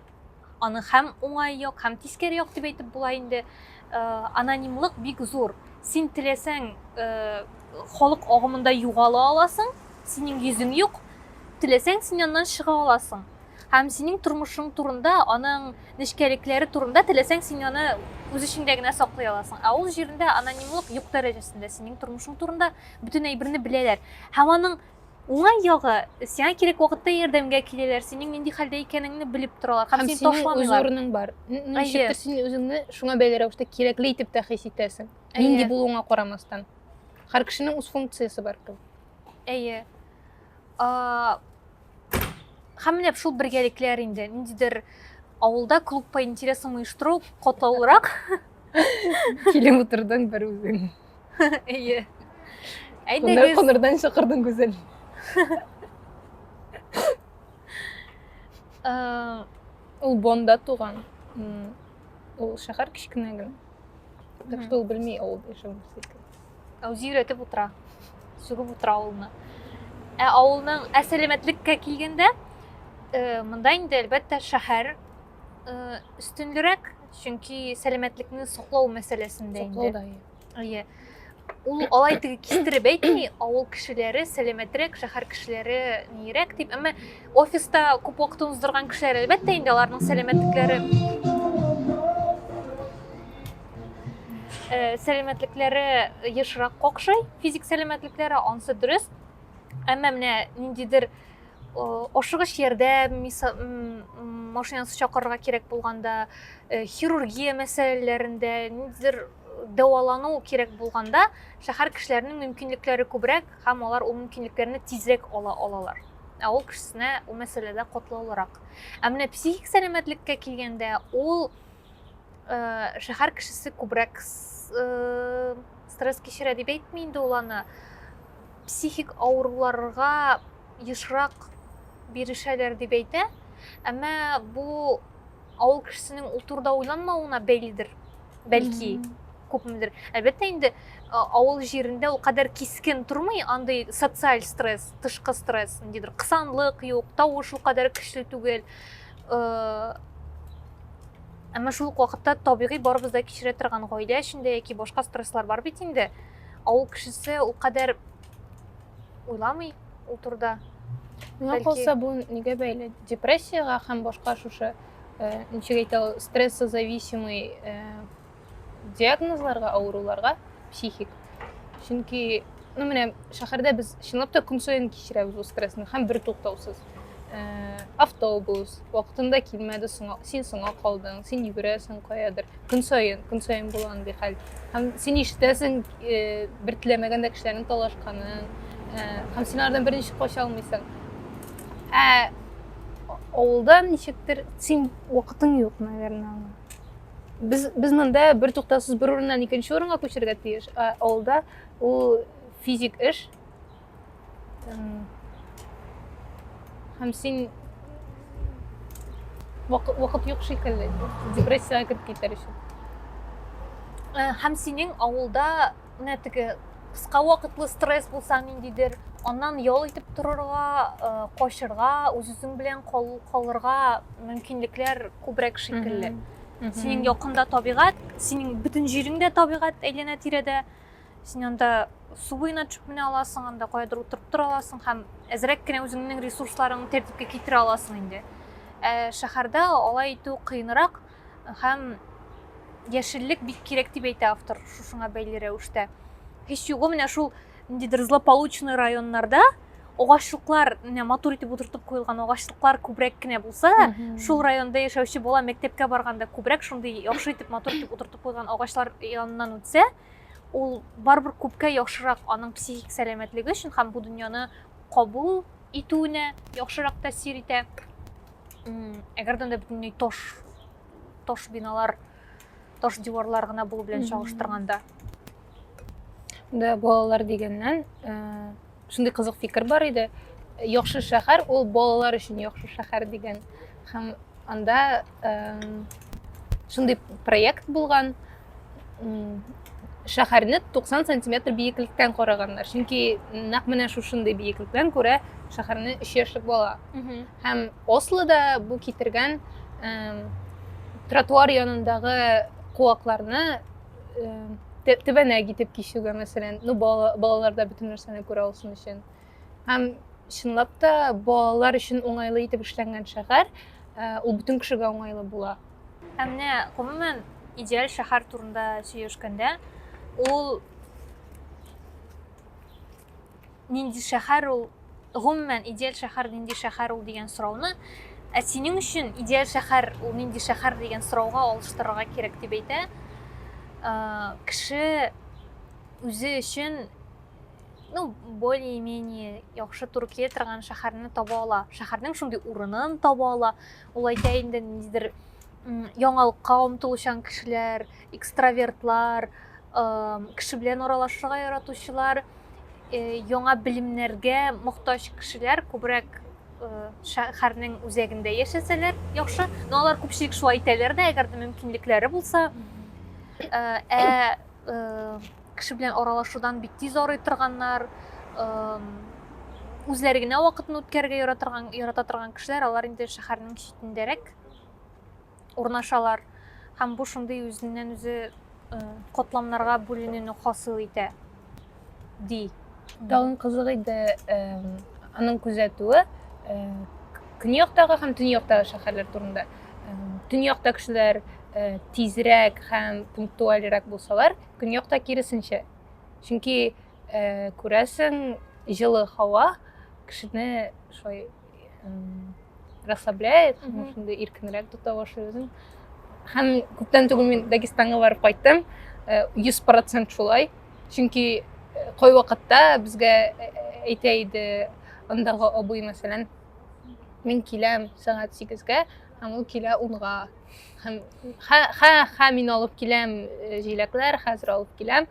аның һәм уңай як, һәм тискәре як дип әйтеп була инде. Э, анонимлык бик зур. Син теләсәң э, халык агымында югала аласың, синең йөзең юк, теләсәң син аннан чыга аласың. Һәм синең тормышың турында, аның нечкәлекләре турында теләсәң син аны үз эчеңдә генә саклый аласың. Ә ул җирендә анонимлык юк дәрәҗәсендә синең тормышың турында бөтен әйберне беләләр. Һәм аның уңай ягы, сиңа кирәк вакытта ярдәмгә киләләр, синең нинди хәлдә икәнеңне белеп торалар һәм, һәм сине ташламыйлар. Һәм синең үз урының бар. Ничектер син үзеңне шуңа бәйле рәвештә кирәкле итеп тә хис итәсең. Нинди булуыңа карамастан. Һәр кешенең үз функциясе бар. Әйе. Һәм менә шул бергәлекләр инде ниндидер авылда клуб по интересам оештыру катлаулырак. Килеп утырдың бер үзең. Әйе. Әйдәгез. Кунырдан чакырдың гүзәл. Э, ул Бонда туган. Ул шәһәр кечкенә генә. Так что ул белми авылда яшәүне. Ә үзе өйрәтеп утыра. Сүгеп утыра авылны. Ә авылның ә сәламәтлеккә килгәндә, э, монда инде әлбәттә шәһәр э, өстенлерәк, чөнки сәламәтлекне саклау мәсьәләсендә инде. Соклау да ие. Әйе. Ул алай теге кистереп әйтми, авыл кешеләре сәламәтрәк, шәһәр кешеләре нирәк дип. Әмма офиста күп вакытын уздырган кешеләр әлбәттә инде аларның сәламәтлекләре Э, сәламәтлекләре ешрак какшый физик сәламәтлекләре ансы дөрес әмма менә ниндидер ашыгыч ярдәм машинасы чакырырга кирәк булганда э, хирургия мәсьәләләрендә ниндидер дәвалану кирәк булганда шәһәр кешеләренең мөмкинлекләре күбрәк һәм алар ул мөмкинлекләрне тизрәк ала алалар авыл кешесенә ул мәсьәләдә катлаулырак ә менә психик сәламәтлеккә килгәндә ул Э, шәһәр кешесе күбрәк э, стресс кичерә дип әйтми инде ул аны психик авыруларга ешрак бирешәләр дип әйтә әмма бу авыл кешесенең ул турыда уйланмавына бәйледер бәлки күпмедер әлбәттә инде авыл җирендә ул кадәр кискен тормый андый социаль стресс тышкы стресс ниндидер кысанлык юк тавыш ул кадәр көчле түгел әмма шул ук вакытта табигый барыбыз да кичерә торган гаилә эчендә яки башка стресслар бар бит инде авыл кешесе ул кадәр уйламый ул турыда миңа калса бу нигә бәйле депрессияга һәм башка шушы ничек әйтә ул стрессозависимый диагнозларга, авыруларга психик. Чөнки, ну менә шәһәрдә без чынлап та көн саен кичерәбез ул стрессны һәм бер туктаусыз. Э, автобус вакытында килмәде, соңа, син соңа калдың, син йөгерәсең каядыр. Көн саен, көн саен була андый хәл. Һәм син ишетәсең э, бер теләмәгәндә кешеләрнең талашканын, э, һәм син алардан берничә кача алмыйсың. Ә авылда ничектер син вакытың юк, наверное, Без, без монда бер туктаусыз бер урыннан икенче урынга күчергә тиеш. Ә авылда ул физик эш. Һәм син вакыт юк шикелле, депрессиягә кереп китәр өчен. Һәм синең авылда менә теге кыска вакытлы стресс булса ниндидер аннан ял итеп торырга э, качырга үз үзең белән калырга мөмкинлекләр күбрәк шикелле синең якында табигать синең бөтен җирең дә табигать әйләнә тирәдә син анда су буена төшеп менә аласың анда каядыр утырып тора аласың һәм әзрәк кенә үзеңнең ресурсларыңны тәртипкә китерә аласың инде ә шәһәрдә алай итү кыенрак Һәм яшеллек бик кирәк дип әйтә автор шушыңа бәйле рәвештә. Һич югы менә шул ниндидер злополучный районнарда агачлыклар менә матур итеп утыртып куелган агачлыклар күбрәк кенә булса да шул районда яшәүче бала мәктәпкә барганда күбрәк шундый яхшы итеп матур итеп утыртып куелган агачлар яныннан үтсә ул барыбер күпкә яхшырак аның психик сәламәтлеге өчен һәм бу дөньяны кабул итүенә яхшырак тәэсир итә әгәрдән дә бөтенләй тош тош биналар тош диварлар гына булу белән чагыштырганда да балалар дигәннән шундый кызык фикер бар иде яхшы шәһәр ул балалар өчен яхшы шәһәр дигән һәм анда шундый проект булган шәһәрне 90 сантиметр биеклектән караганнар чөнки нәкъ менә шушындый биеклектән күрә шәһәрне өч яшьлек бала һәм ослода бу китергән тротуар янындагы куакларны тәбәнәк итеп кичүгә мәсәлән ну балаларда бөтен нәрсәне күрә алсын өчен һәм чынлап та балалар өчен уңайлы итеп эшләнгән шәһәр ул бөтен кешегә уңайлы була Ә менә гомумән идеаль шәһәр турында сөйләшкәндә, ул нинди шәһәр ул, гомумән идеаль шәһәр нинди шәһәр ул дигән сорауны, ә синең өчен идеаль шәһәр ул нинди шәһәр дигән сорауга алыштырырга кирәк дип әйтә. Кеше үзе өчен ну, более-менее яхшы туры килә торган шәһәрне таба ала. Шәһәрнең шундый урынын таба ала, Ул әйтә инде ниндидер яңалыкка омтылучан кешеләр, экстравертлар, кеше белән аралашырга яратучылар, э, яңа белемнәргә мохтаҗ кешеләр күбрәк Э, шәһәрнең үзәгендә яшәсәләр яхшы но алар күпчелек шулай әйтәләр дә әгәр дә мөмкинлекләре булса э, ә кеше белән аралашудан бик тиз арый торганнар үзләре генә вакытын үткәрергә яратырган ярата торган кешеләр алар инде шәһәрнең читендәрәк урнашалар һәм бу шундый үзеннән үзе котламнарга бүленүне хасил итә ди. Тагын кызык иде аның күзәтүе көньяктагы һәм төньяктагы шәһәрләр турында. Төньякта кешеләр тизрәк һәм пунктуальрәк булсалар, көньякта киресенчә. Чөнки күрәсең, җылы һава кешене шулай расслабляет шунда иркенрәк тота башлый үзен һәм күптән түгел мин дагестанга барып кайттым э, йөз процент шулай чөнки э, кой вакытта безгә э, әйтә иде андагы абый мәсәлән мин киләм сәгать сигезгә һәм ул килә унга һәм ха ха мин алып киләм җиләкләр хәзер алып киләм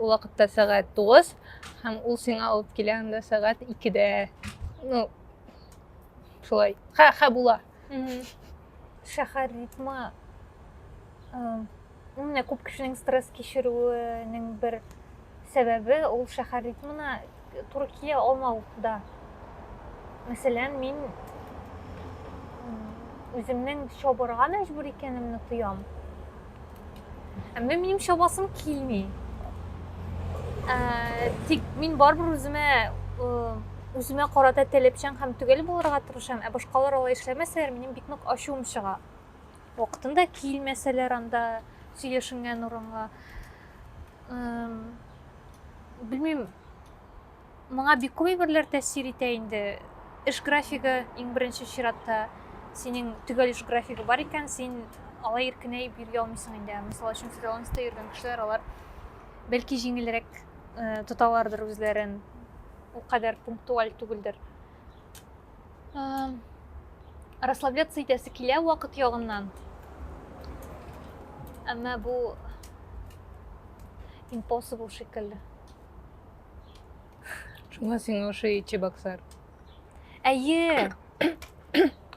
Ул вакытта сәгать 9 һәм ул сиңа алып килә анда сәгать 2-дә. Ну, шулай. Ха, ха була. Шәһәр ритмы менә күп кешенең стресс кичерүенең бер сәбәбе ул шәһәр ритмына туры кия алмау да. Мәсәлән, мин үземнең чабырга мәҗбүр икәнемне тоям. Әмма минем чабасым килми. Ә, тик мин барбер үземә үземә карата таләпчән һәм төгәл булырга тырышам, ә башкалар алай эшләмәсәләр, минем бик нык ачуым чыга. Вакытында килмәсәләр анда сөйләшенгән урынга, белмим моңа бик күп әйберләр тәэсир итә инде эш графигы иң беренче чиратта синең төгәл эш графигы бар икән син алай иркенәеп йөргә алмыйсың инде мисал өчен фриланста йөргән кешеләр алар бәлки җиңелрәк э, тоталардыр үзләрен ул кадәр пунктуаль түгелдер Расслабляться итәсе килә вакыт ягыннан. Әмма бу impossible шикелле. Шуңа сиңа ошый ичи баксар. Әйе.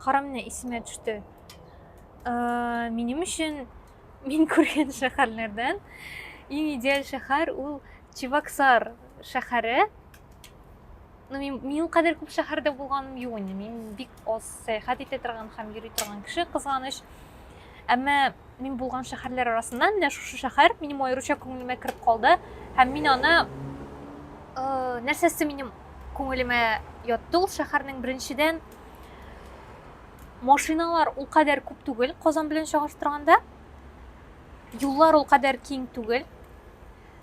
Карам менә исемә төште. Минем өчен мин күргән шәһәрләрдән иң идеаль шәһәр ул Чебоксар шәһәре. Ну, мин, мин кадәр күп шәһәрдә булганым юк инде. Мин бик аз сәяхәт итә торган һәм йөри торган кеше кызганыч. Әмма мин булган шәһәрләр арасында менә шушы шәһәр минем аеруча күңелемә кереп калды һәм мин аны э, нәрсәсе минем күңелемә ятты ул шәһәрнең беренчедән машиналар ул кадәр күп түгел Казан белән чагыштырганда. Юллар ул кадәр киң түгел.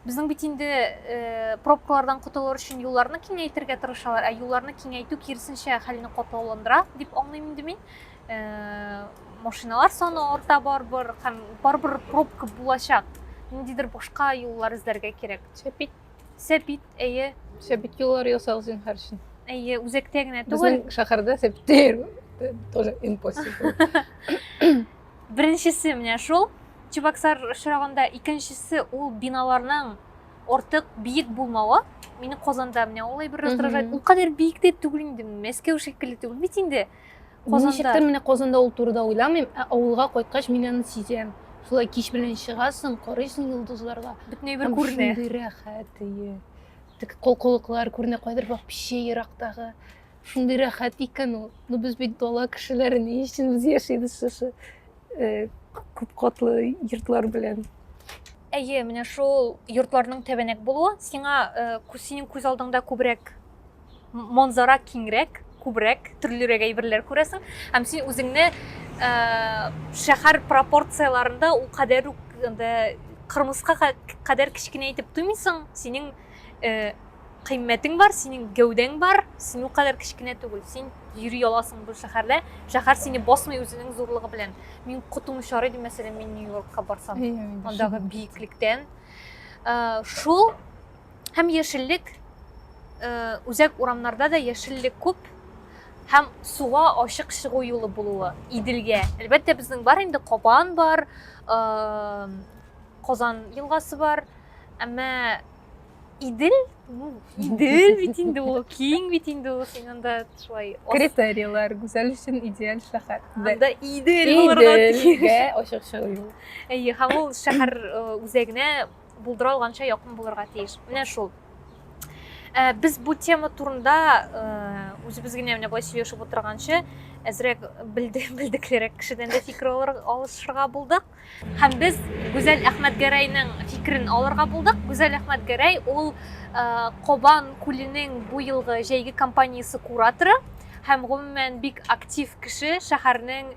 Безнең бит инде пробкалардан котылыр өчен юлларны киңәйтергә тырышалар, ә юлларны киңәйтү киресенчә хәлне катлауландыра дип аңлыйм инде мин. Машиналар саны арта барбыр һәм барбыр пробка булачак. Ниндидер башка юллар эзләргә кирәк. Шәпит. Сәпит, әйе. Сәпит юллар ясагыз зинһар өчен. Әйе, үзәктә генә түгел. Безнең шәһәрдә сәпит тоже impossible. Беренчесе менә шул. Чебоксар очрагында икенчесе ул биналарның артык биек булмавы. Мине Казанда менә улай бер раздражает. Ул кадәр биек дә түгел инде, Мәскәү шикелле түгел бит инде. Казанда. Ничектер менә Казанда ул турыда уйламыйм, ә авылга кайткач мин аны сизәм. Шулай кич белән чыгасың, карыйсың йолдызларга. Бөтен әйбер күренә. Шундый рәхәт, әйе. Тик колкылыклар күренә, кайдыр бак пече ерактагы. Шундый рәхәт икән ул. Ну без бит дала кешеләре ни өчен без яшибез шушы э, күп катлы йортлар белән. Әйе, менә шул йортларның тәбәнәк булуы сиңа э, кү- синең күз алдыңда күбрәк м- манзара киңрәк, күбрәк төрлерәк әйберләр күрәсең һәм син үзеңне э, шәһәр пропорцияләрендә ул кадәр үк анда кырмыска ка- кадәр кечкенә итеп тоймыйсың. Синең э, кыйммәтең бар, синең гәүдәң бар, син кадәр кечкенә түгел, син йөри аласың бу шәһәрдә, шәһәр сине басмый үзенең зурлыгы белән. Мин котым шар идем, мәсәлән, мин Нью-Йоркка барсам, андагы биеклектән. Э, шул һәм яшеллек э, үзәк урамнарда да яшеллек күп һәм суга ачык чыгу юлы булуы Иделгә. Әлбәттә, безнең бар инде Кабан бар, э, Казан елгасы бар, әмма идел ну идел бит инде ул киң бит инде ул син анда шулай критерийлар гүзәл өчен идеаль шәһәр анда идел булырга тиеш ачык чыгу юл әйе һәм ул шәһәр э, үзәгенә булдыра алганча якын булырга тиеш менә шул э, без бу тема турында э, үзебез генә менә болай сөйләшеп утырганчы әзрәк белдеклерәк кешедән дә фикер алышырга булдык Һәм без Гүзәл Әхмәтгәрәйнең фикерен алырга булдык. Гүзәл Әхмәтгәрәй ул Кобан күленең бу елгы җәйге компаниясе кураторы һәм гомумән бик актив кеше, шәһәрнең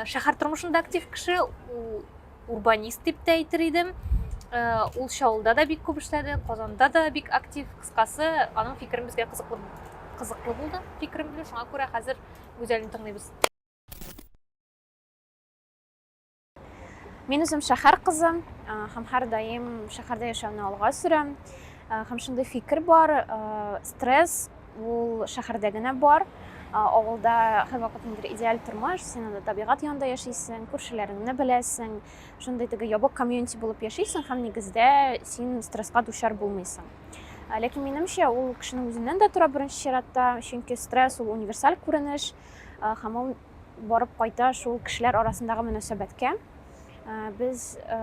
шәһәр тормышында актив кеше, урбанист дип тә әйтер идем. Ул Шаулда да бик күп эшләде, Казанда да бик актив. Кыскасы, аның фикерен безгә кызыклы кызыклы булды фикерем белән шуңа күрә хәзер гүзәлне тыңлыйбыз Мин үзем шәһәр кызы һәм һәрдаим шәһәрдә яшәүне алга сөрәм. Һәм шундый фикер бар, стресс ул шәһәрдә генә бар. Авылда һәрвакыт ниндер идеаль тормыш, син анда табигать янында яшисең, күршеләреңне беләсең, шундый теге ябык комьюнити булып яшисең һәм нигездә син стресска дучар булмыйсың. Ләкин минемчә ул кешенең үзеннән дә тора беренче чиратта, чөнки стресс ул универсаль күренеш һәм ул барып кайта шул кешеләр арасындагы мөнәсәбәткә. Э, без э,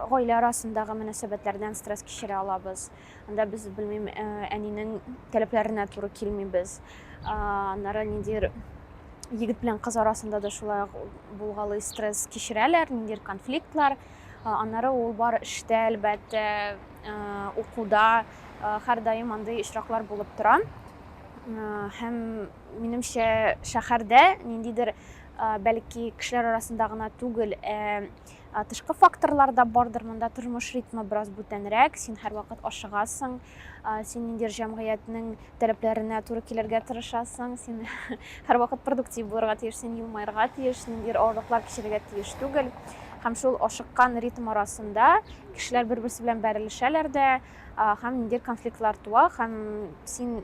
гаилә арасындагы мөнәсәбәтләрдән стресс кичерә алабыз. Анда без белмим, э, әнинең таләпләренә туры килмибез. Аннары ниндидер егет белән кыз арасында да шулай булгалый стресс кичерәләр, ниндидер конфликтлар. Аннары ул бар эштә, әлбәттә, укуда һәрдаим андый очраклар булып тора. Һәм Минемчә, шәһәрдә ниндидер, бәлки, кешеләр арасында гына түгел, ә тышкы факторлар да бардыр. Монда тормыш ритмы бераз бүтәнрәк, син һәрвакыт ашыгасың, син ниндидер җәмгыятьнең таләпләренә туры килергә тырышасың, син һәрвакыт продуктив булырга тиеш, син елмаерга тиеш, ниндидер авырлыклар кичерергә тиеш түгел. Һәм шул ашыккан ритм арасында кешеләр бер-берсе белән бәрелешәләр дә, һәм ниндидер конфликтлар туа, һәм син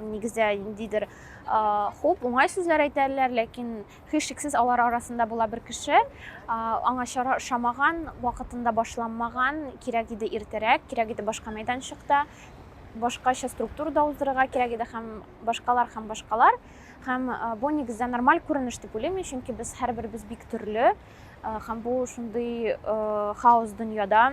нигездә ниндидер хуп уңай сүзләр әйтәләр ләкин һичшиксез алар арасында була бер кеше аңа чара ошамаган вакытында башланмаган кирәк иде иртәрәк кирәк иде башка мәйданчыкта башкача структурада уздырырга кирәк иде һәм башкалар һәм башкалар һәм бу нигездә нормаль күренеш дип уйлыйм мин чөнки без һәрберебез бик төрле һәм бу шундый хаос дөньяда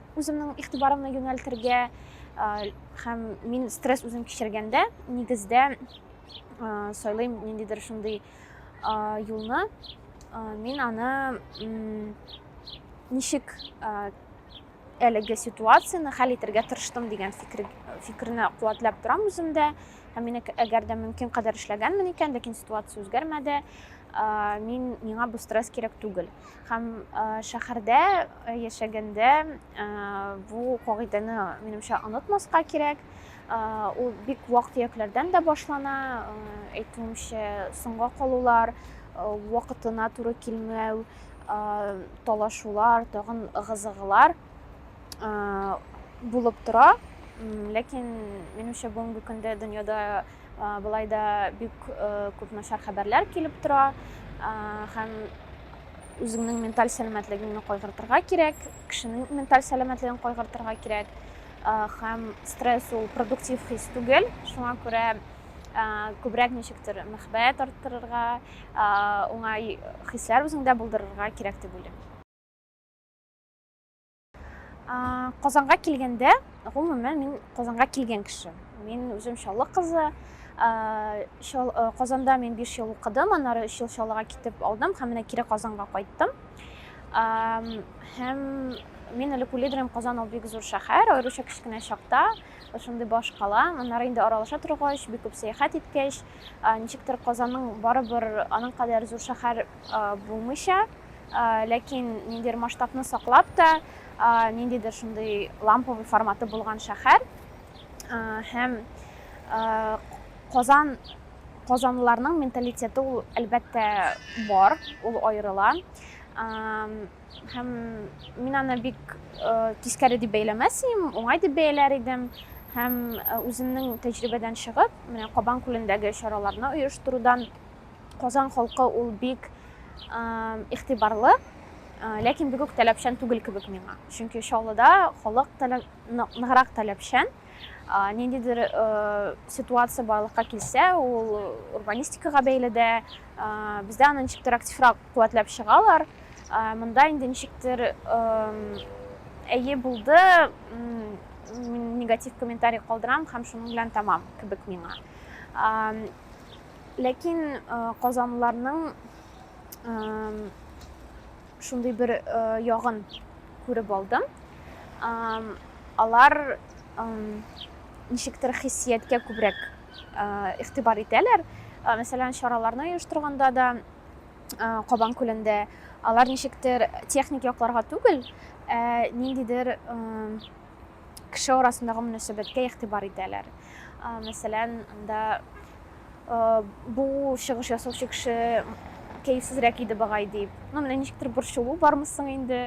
Үземнең игътибарымны юнәлтергә һәм мин стресс үзем кичергәндә, нигездә сайлыйм ниндидер шундый юлны. Мин аны ничек әлеге ситуацияне хәл итәргә тырыштым дигән фикер, фикерне куәтләп торам үземдә. Һәм мин әгәр дә мөмкин кадәр эшләгәнмен икән, ләкин ситуация үзгәрмәде, мин миңа бу стресс кирәк түгел. Һәм шәһәрдә яшәгәндә бу кагыйдәне, минемчә, онытмаска кирәк. Ул бик вак-төякләрдән дә башлана. Әйтүемчә, соңга калулар, вакытына туры килмәү, талашулар, тагын ыгы-зыгылар булып тора. Ләкин, минемчә, бүгенге көндә дөньяда Болай да бик күп начар хәбәрләр килеп тора һәм үзеңнең менталь сәламәтлегеңне кайгыртырга кирәк, кешенең менталь сәламәтлеген кайгыртырга кирәк. Һәм стресс ул продуктив хис түгел, шуңа күрә күбрәк ничектер мәхәббәт арттырырга, уңай хисләр үзеңдә булдырырга кирәк дип уйлыйм. Казанга килгәндә, гомумән, мин Казанга килгән кеше. Мин үзем Чаллы кызы. Казанда мин 5 ел укыдым, аннары 3 ел Чаллыга китеп алдым һәм менә кире Казанга кайттым. Һәм мин әле күледерем Казан ул бик зур шәһәр, аеруча кечкенә чакта, шундый баш кала. Аннары инде аралаша торгач, бик күп сәяхәт иткәч, ничектер Казанның барыбер аның кадәр зур шәһәр булмыйча, Ләкин ниндидер масштабны саклап та, ниндидер шундый ламповый форматы булган шәһәр һәм Казан казанлыларның менталитеты ул әлбәттә бар, ул аерыла. Һәм мин аны бик тискәре дип бәйләмәс идем, уңай дип бәяләр идем һәм үземнең тәҗрибәдән чыгып, менә Кабан күлендәге чараларны оештырудан Казан халкы ул бик игътибарлы, ләкин бик үк таләпчән түгел кебек миңа. Чөнки Чаллыда халык ныграк таләпчән. Ниндидер ситуация барлыкка килсә, ул урбанистикага бәйле дә, бездә аны ничектер активрак куәтләп чыгалар. Монда инде ничектер әйе булды, негатив комментарий калдырам һәм шуның белән тәмам кебек миңа. Ләкин казанлыларның шундый бер ягын күреп алдым. Алар ничектер хиссияткә күбрәк игътибар итәләр. Мәсәлән, чараларны оештырганда да Кабан күлендә алар ничектер техник якларга түгел, ә ниндидер кеше арасындагы мөнәсәбәткә игътибар итәләр. Мәсәлән, анда бу чыгыш ясаучы кеше кәефсезрәк иде багай дип. Ну, менә ничектер борчылу бармы соң инде.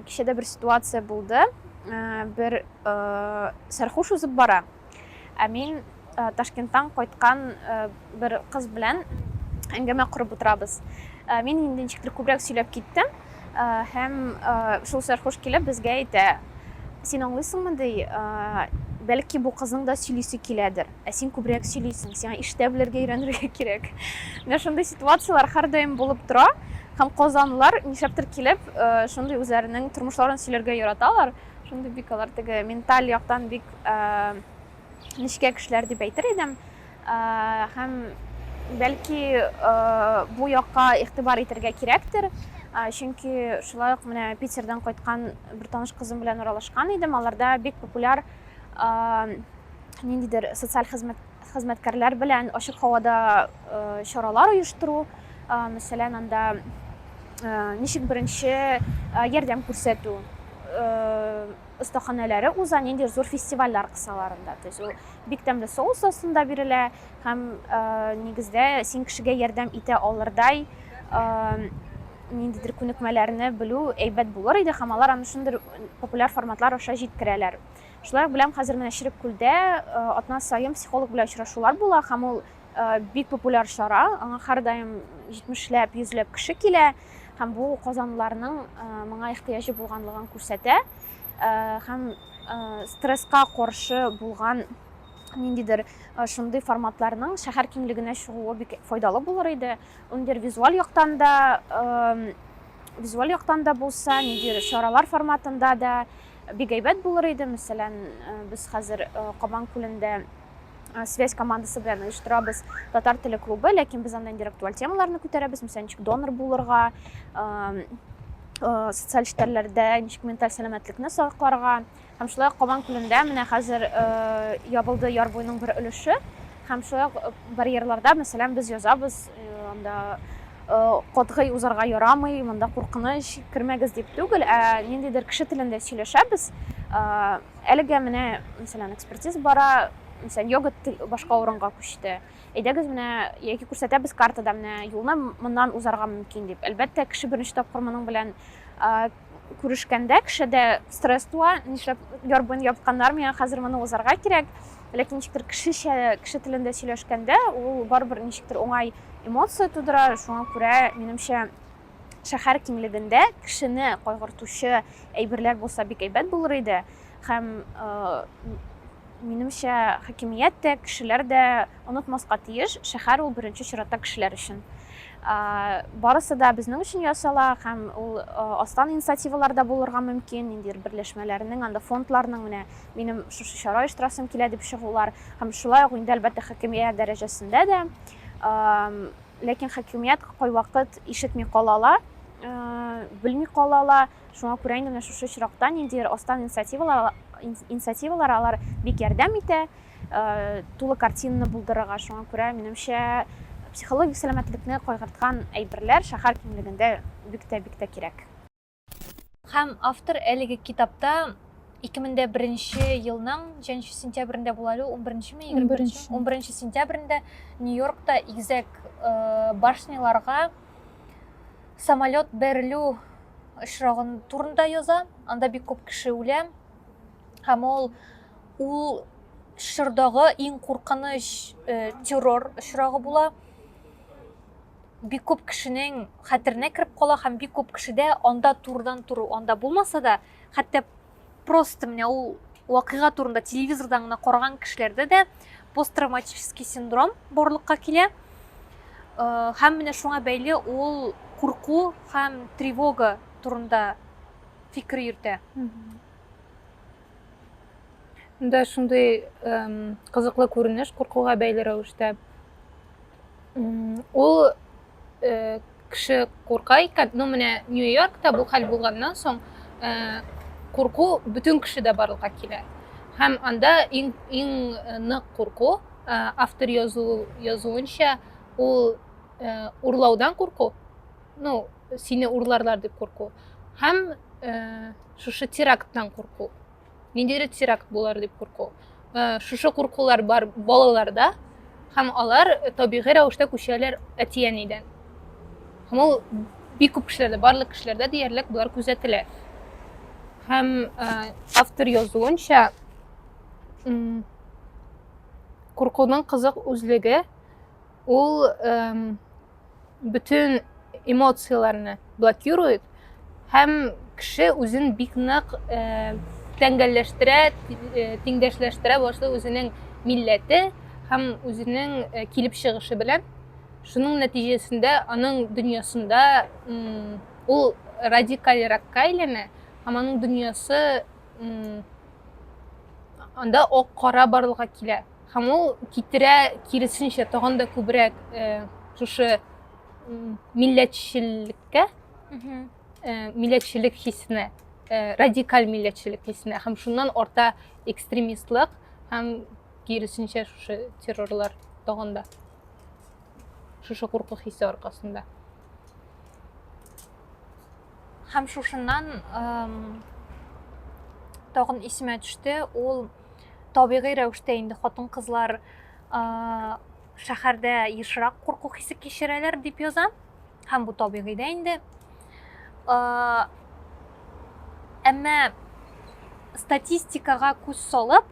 Кичәдә бер ситуация булды. Бер сәрхуш узып бара. Ә мин Ташкенттан кайткан бер кыз белән әңгәмә корып утырабыз. Мин инде ничектер күбрәк сөйләп киттем һәм шул сәрхуш килеп безгә әйтә, син аңлыйсыңмы ди, бәлки бу кызның да сөйлисе киләдер, ә син күбрәк сөйлисең, сиңа иштә белергә өйрәнергә кирәк. Менә шундый ситуацияләр һәрдаим булып тора һәм казанлылар нишләптер килеп шундый үзләренең тормышларын сөйләргә яраталар. шундый бик алар теге менталь яктан бик нечкә кешеләр дип әйтер идем һәм бәлки бу якка игътибар итәргә кирәктер чөнки шулай ук менә питердан кайткан бер таныш кызым белән аралашкан идем аларда бик популяр ниндидер социаль хезмәт хезмәткәрләр белән ачык һавада чаралар оештыру, мәсәлән, анда ничек беренче ярдәм күрсәтү остаханәләре уза, нинди зур фестивальләр кысаларында. То есть ул бик тәмле соус астында бирелә һәм нигездә син кешегә ярдәм итә алырдай ниндидер күнекмәләрне белү әйбәт булыр иде һәм алар аны шундый популяр форматлар аша җиткерәләр. Шулай ук беләм, хәзер менә Черек күлдә атна саен психолог белән очрашулар була һәм ул Бик популяр чара, аңа һәрдаим җитмешләп, йөзләп кеше килә һәм бу казанлыларның моңа ихтыяҗы булганлыгын күрсәтә һәм стресска каршы булган ниндидер шундый форматларның шәһәр киңлегенә чыгуы бик файдалы булыр иде ниндидер визуаль яктан да визуаль яктан да булса ниндидер чаралар форматында да бик әйбәт булыр иде мәсәлән без хәзер кабан күлендә Э, связь командасы белән оештырабыз татар теле клубы ләкин без анда инде актуаль темаларны күтәрәбез мисал ничек донор булырга э, э, социаль челтәрләрдә ничек менталь сәламәтлекне сакларга һәм шулай ук кабан күлендә менә хәзер ябылды яр буеның бер өлеше һәм шулай ук барьерларда мәсәлән без язабыз анда катгый узарга ярамый монда куркыныч кермәгез дип түгел ә ниндидер кеше телендә сөйләшәбез Әлегә менә, мәсәлән, экспертиз бара, мәсәлән, йога башка урынга күчте. Әйдәгез менә яки күрсәтәбез картада менә юлны моннан узарга мөмкин дип. Әлбәттә, кеше беренче тапкыр моның белән күрешкәндә кешедә стресс туа, нишләп яр буен япканнар, миңа хәзер моны узарга кирәк. Ләкин ничектер кешечә, кеше телендә сөйләшкәндә, ул барыбер ничектер уңай эмоция тудыра, шуңа күрә, минемчә, шәһәр киңлегендә кешене кайгыртучы әйберләр булса бик әйбәт булыр иде һәм минемчә хакимият тә кешеләр дә онытмаска тиеш шәһәр ул беренче чиратта кешеләр өчен барысы да безнең өчен ясала һәм ул астан инициативалар да булырга мөмкин ниндидер берләшмәләрнең анда фондларның менә минем шушы чара оештырасым килә дип чыгулар һәм шулай ук инде әлбәттә хакимият дәрәҗәсендә дә Ләкин хакимият кайвакыт ишетми кала ла, белми кала ла. Шуңа күрә инде менә шушы очракта ниндидер астан инициативалар алар бик ярдәм итә, тулы картинаны булдырырга. Шуңа күрә, минемчә, психологик сәламәтлекне кайгырткан әйберләр шәһәр киңлегендә бик тә, бик тә кирәк. Һәм автор әлеге китапта 2001 елның 3 сентябрендә була әле 11 ме 21 11 сентябрендә Нью-Йоркта игзәк э, башняларга самолет бәрелү очрагын турында яза. Анда бик күп кеше үлә. Һәм ул ул чордагы иң куркыныч э, террор очрагы була. бик күп кешенең хәтеренә кереп кала һәм бик күп кешедә анда турыдан туры анда булмаса да хәтта просто менә ул вакыйга турында телевизордан гына караган кешеләрдә дә посттравматический синдром барлыкка килә э, һәм менә шуңа бәйле ул курку һәм тревога турында фикер йөртә да шундый кызыклы күренеш куркуга бәйле рәвештә ул э, кеше курка икән ну менә нью йоркта бу хәл булганнан соң э, курку бөтен кешедә барлыкка килә һәм анда иң иң э, нык курку автор язу язуынча ул урлаудан курку ну сине урларлар дип курку һәм шушы теракттан курку Ниндидер теракт булар дип курку. Э, шушы куркулар бар балаларда һәм алар табигый рәвештә күчәләр әти-әнидән. Һәм ул бик күп кешеләрдә, барлык кешеләрдә диярлек болар күзәтелә. Һәм э, автор язуынча куркуның кызык үзлеге ул бөтен эмоцияләрне блокирует һәм кеше үзен бик нык э, тәңгәлләштерә, э, тиңдәшләштерә башлый үзенең милләте һәм үзенең э, килеп чыгышы белән. Шуның нәтиҗәсендә аның дөньясында ул радикалеракка әйләнә һәм аның дөньясы анда ак кара барлыкка килә. һәм ул китерә киресенчә тагын да күбрәк э, шушы милләтчелеккә э, милләтчелек хисенә э, радикаль милләтчелек хисенә һәм шуннан арта экстремистлык һәм киресенчә шушы террорлар тагын да шушы курку хисе аркасында һәм шушыннан тагын исемә төште ул Табигый рәвештә инде хатын-кызлар шәһәрдә ешрак курку хисе кичерәләр дип яза. Һәм бу табигый дә инде. Әмма статистикага күз салып,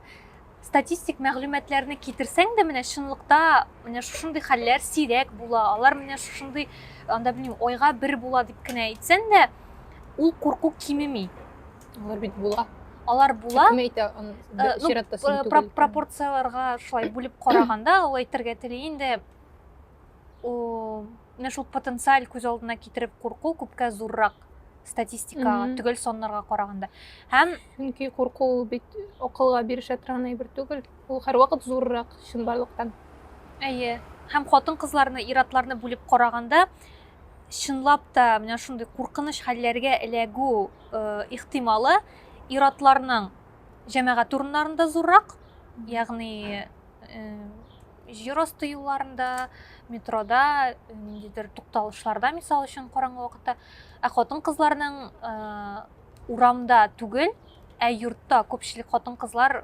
статистик мәгълүматларны китерсәң дә менә чынлыкта менә шушындый хәлләр сирәк була алар менә шушындый анда белмим айга бер була дип кенә әйтсәң дә ул курку кимеми Алар бит була. Алар була. Кем әйтә, чиратта син түгел. Пропорцияләргә шулай бүлеп караганда, ул әйтергә тели инде. Менә шул потенциаль күз алдына китереп курку күпкә зуррак статистикага, төгәл саннарга караганда. Һәм чөнки курку ул бит акылга бирешә торган әйбер түгел. Ул һәрвакыт зуррак чынбарлыктан. Әйе. Һәм хатын-кызларны, иратларны бүлеп караганда, чынлап та менә шундый куркыныч хәлләргә эләгү ихтималы иратларның җәмәгать урыннарында зуррак, ягъни җир асты юлларында, метрода, ниндидер тукталышларда, мисал өчен, караңгы вакытта. Ә хатын-кызларның урамда түгел, ә йортта күпчелек хатын-кызлар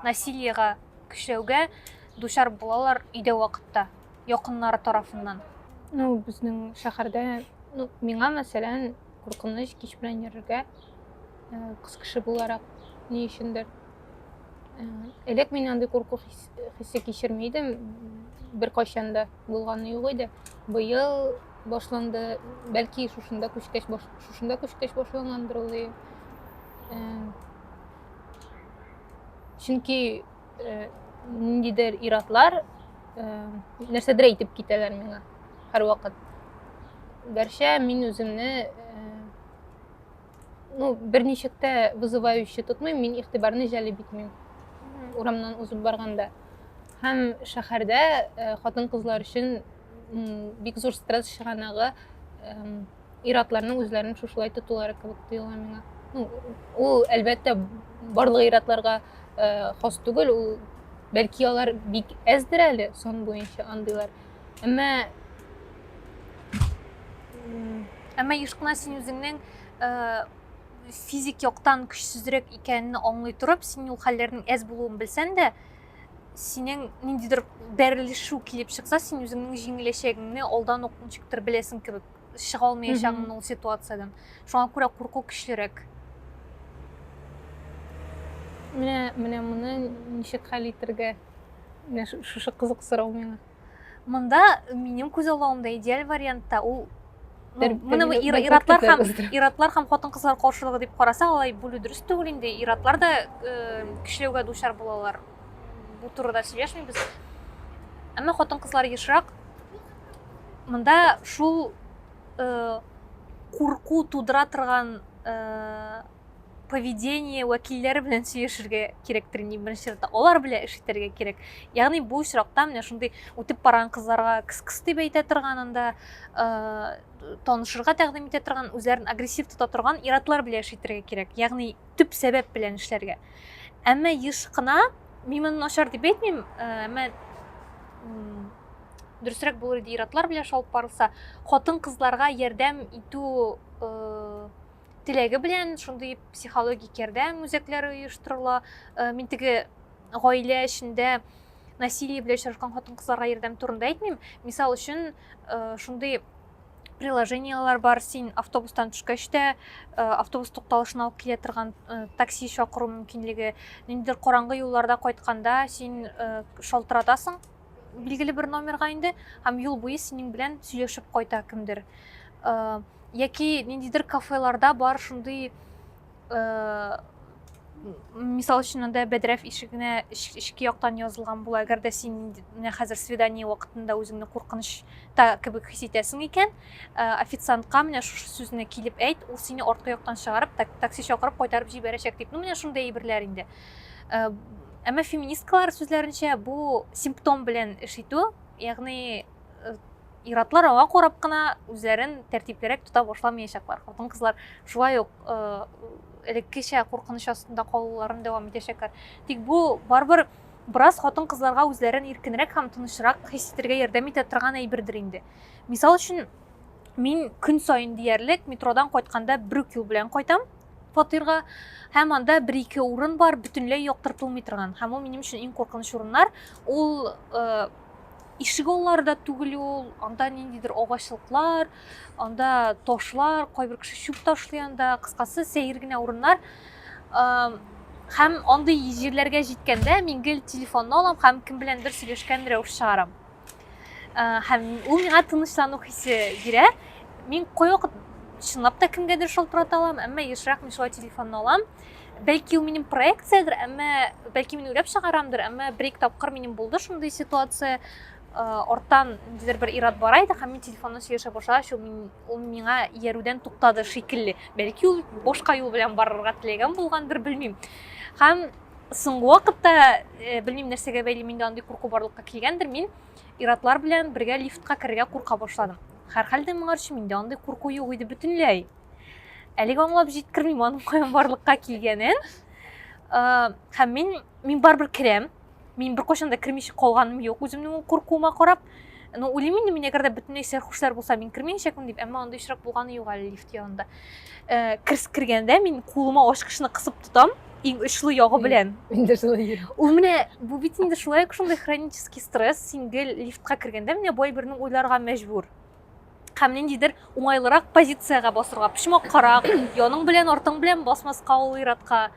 насилиега, көчләүгә дучар булалар өйдә вакытта. якыннары тарафыннан? Ну, безнең шәһәрдә, ну, миңа, мәсәлән, куркыныч кич белән йөрергә, э, кыз кеше буларак, ни өчендер. Э, элек мин андый курку хисе кичерми идем, беркайчан да булганы юк иде. Быел башланды, бәлки шушында күчкәч, шушында күчкәч башлангандыр ул. Э, чөнки э, ниндидер иратлар э, нәрсәдер әйтеп китәләр миңа һәрвакыт гәрчә мин үземне э, ну берничек тә вызывающий тотмыйм мин игътибарны җәлеп итмим урамнан узып барганда һәм шәһәрдә хатын кызлар өчен бик зур стресс чыганагы ир-атларның үзләрен шушылай тотулары кебек тоела миңа. Ну, ул әлбәттә барлык ир-атларга э, хас түгел, ул бәлки алар бик әздер әле сон буенча андыйлар. Әмма әмма еш кына син үзеңнең э, физик яктан көчсезрәк икәнен аңлый торып, син ул хәлләрнең әз булуын белсәң дә, синең ниндидер бәрелешү килеп чыкса син үзеңнең җиңеләчәгеңне алдан ук ничектер беләсең кебек чыга алмаячагыңны ул ситуациядән шуңа күрә курку көчлерәк менә менә моны ничек хәл итәргә менә шушы кызык сорау миңа Монда минем күз алуымда идеаль вариантта ул Менә бу иратлар һәм иратлар һәм хатын-кызлар каршылыгы дип карасак, алай бүлү дөрес түгел инде. Иратлар да э, кешеләүгә дучар булалар. Бу турыда сөйләшмибез. Әмма хатын-кызлар ешрак. Монда шул э, курку тудыра торган э, поведение вәкилләре белән сөйләшергә кирәктер инде беренче чиратта алар белән эш итәргә кирәк ягъни бу очракта менә шундый үтеп барган кызларга кыс кыс дип әйтә торган анда э, танышырга тәкъдим итә торган үзләрен агрессив тота торган иратлар белән эш итәргә кирәк ягъни төп сәбәп белән эшләргә әмма еш кына мин моны начар дип әйтмим э, әмма дөресрәк булыр иде иратлар белән шалып барылса хатын кызларга ярдәм итү э, Теләге белән шундый психологик ярдәм үзәкләре оештырыла. Э, мин теге гаилә эчендә насилие белән очрашкан хатын-кызларга ярдәм турында әйтмим. Мисал өчен, э, шундый приложениелар бар, син автобустан төшкәч тә э, автобус тукталышына алып килә торган такси чакыру мөмкинлеге. Ниндидер караңгы юлларда кайтканда син шалтыратасың, билгеле бер номерга инде һәм юл буе синең белән сөйләшеп кайта кемдер э, яки ниндидер кафеларда бар шундый э, мисал өчен анда бәдрәф ишегенә эчке яктан язылган була әгәр дә син менә хәзер свидание вакытында үзеңне куркынычта кебек хис итәсең икән э, официантка менә шушы сүзне килеп әйт ул сине арткы яктан чыгарып такси чакырып кайтарып җибәрәчәк дип ну менә шундый әйберләр инде Э, әмма феминисткалар сүзләренчә бу симптом белән эш итү ягъни э, иратлар аңа карап кына үзләрен тәртиплерәк тота башламаячаклар хатын кызлар шулай ук э, элеккечә куркыныч астында калуларын дәвам итәчәкләр тик бу барыбер бераз хатын кызларга үзләрен иркенрәк һәм тынычрак хис итәргә ярдәм итә торган әйбердер инде мисал өчен мин көн саен диярлек метродан кайтканда бер үк юл белән кайтам фатирга һәм анда бер-ике урын бар, бөтенләй яктыртылмый торган. Һәм ул минем өчен иң куркыныч урыннар. Ул э, ишек аллары да түгел ул, анда ниндидер агачлыклар, анда ташлар, кайбер кеше чүп ташлый анда, кыскасы сәер генә урыннар. Э, һәм андый җирләргә җиткәндә мин гел телефонны алам һәм кем беләндер сөйләшкән рәвеш чыгарам. һәм ул миңа тынычлану хисе бирә мин кайвакыт чынлап та кемгәдер шалтырата алам әмма ешрак мин шулай телефонны алам бәлки ул минем проекциядер әмма бәлки мин уйлап чыгарамдыр әмма бер ике тапкыр минем булды шундый ситуация арттан ниндидер бер ират бара иде һәм мин телефоннан сөйләшә башлагач ул, мин, ул миңа иярүдән туктады шикелле бәлки ул башка юл белән барырга теләгән булгандыр белмим һәм соңгы вакытта э, белмим нәрсәгә бәйле миндә андый курку барлыкка килгәндер мин иратлар белән бергә лифтка керергә курка башладым һәрхәлдә моңарчы миндә андый курку юк иде бөтенләй әлегә аңлап җиткермим аның каян барлыкка килгәнен э, һәм мин мин барыбер керәм мин беркайчан да кермичә калганым юк үземнең ул куркуыма карап ну уйлыйм инде мин әгәр дә бөтенләй сәрхушлар булса мин кермәячәкмен дип әмма андый очрак булганы юк әле лифт янында э, керс кергәндә мин кулыма ачкычны кысып тотам иң очлы ягы белән инде шулай ул менә бу бит инде шулай ук шундай хронический стресс син гел лифтка кергәндә менә бай бернең уйларга мәҗбүр һәм ниндидер уңайлырак позициягә басырга, почмак карак, яның белән, артың белән басмаска ул иратка,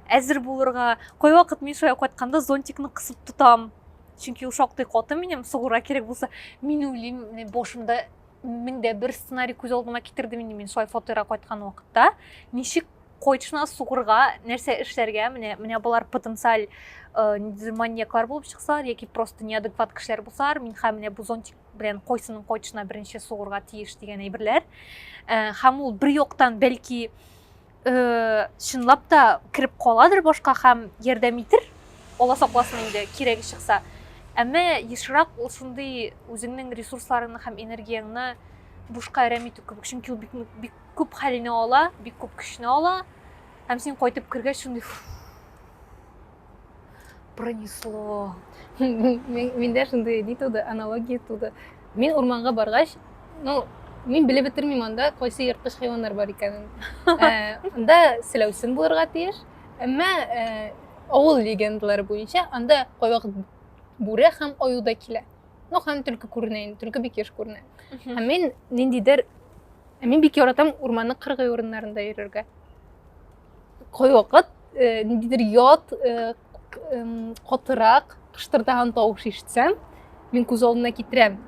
әзер булырга. Кайвакыт мин шулай кайтканда зонтикны кысып тотам. Чөнки ул шактый каты минем, сугура кирәк булса, мин уйлыйм, башымда меңдә бер сценарий күз алдыма китердем инде мин шулай фатирга кайткан вакытта. Ничек койчына сугырга, нәрсә эшләргә, менә менә болар потенциаль э, маньяклар булып чыксалар яки просто неадекват кешеләр булсалар, мин һәм менә бу зонтик белән койсының койчына беренче сугырга тиеш дигән әйберләр һәм ул бер яктан бәлки чынлап та кереп каладыр башка һәм ярдәм итер алла сакласын инде кирәге чыкса әмма ешрак ул шундый үзеңнең ресурсларыңны һәм энергияңне бушка әрәм итү кебек чөнки ул бик, бик күп хәлне ала бик күп көчне ала һәм син кайтып кергәч шундый пронесло менде шундай ни туды аналогия туды мен урманга баргач ну мен белеп бетермим анда кайсы ерткыч хайваннар бар икәнен анда селәүсен булырга тиеш әмма авыл легендалары буенча анда кайвак бүре һәм аю да килә ну һәм төлке күренә инде төлке бик еш күренә һәм мен ниндидер мен бик яратам урманның кыргый урыннарында йөрергә кайвакыт э, ниндидер ят э, катырак кыштырдаган тавыш ишетсәм мин күз алдына китерәм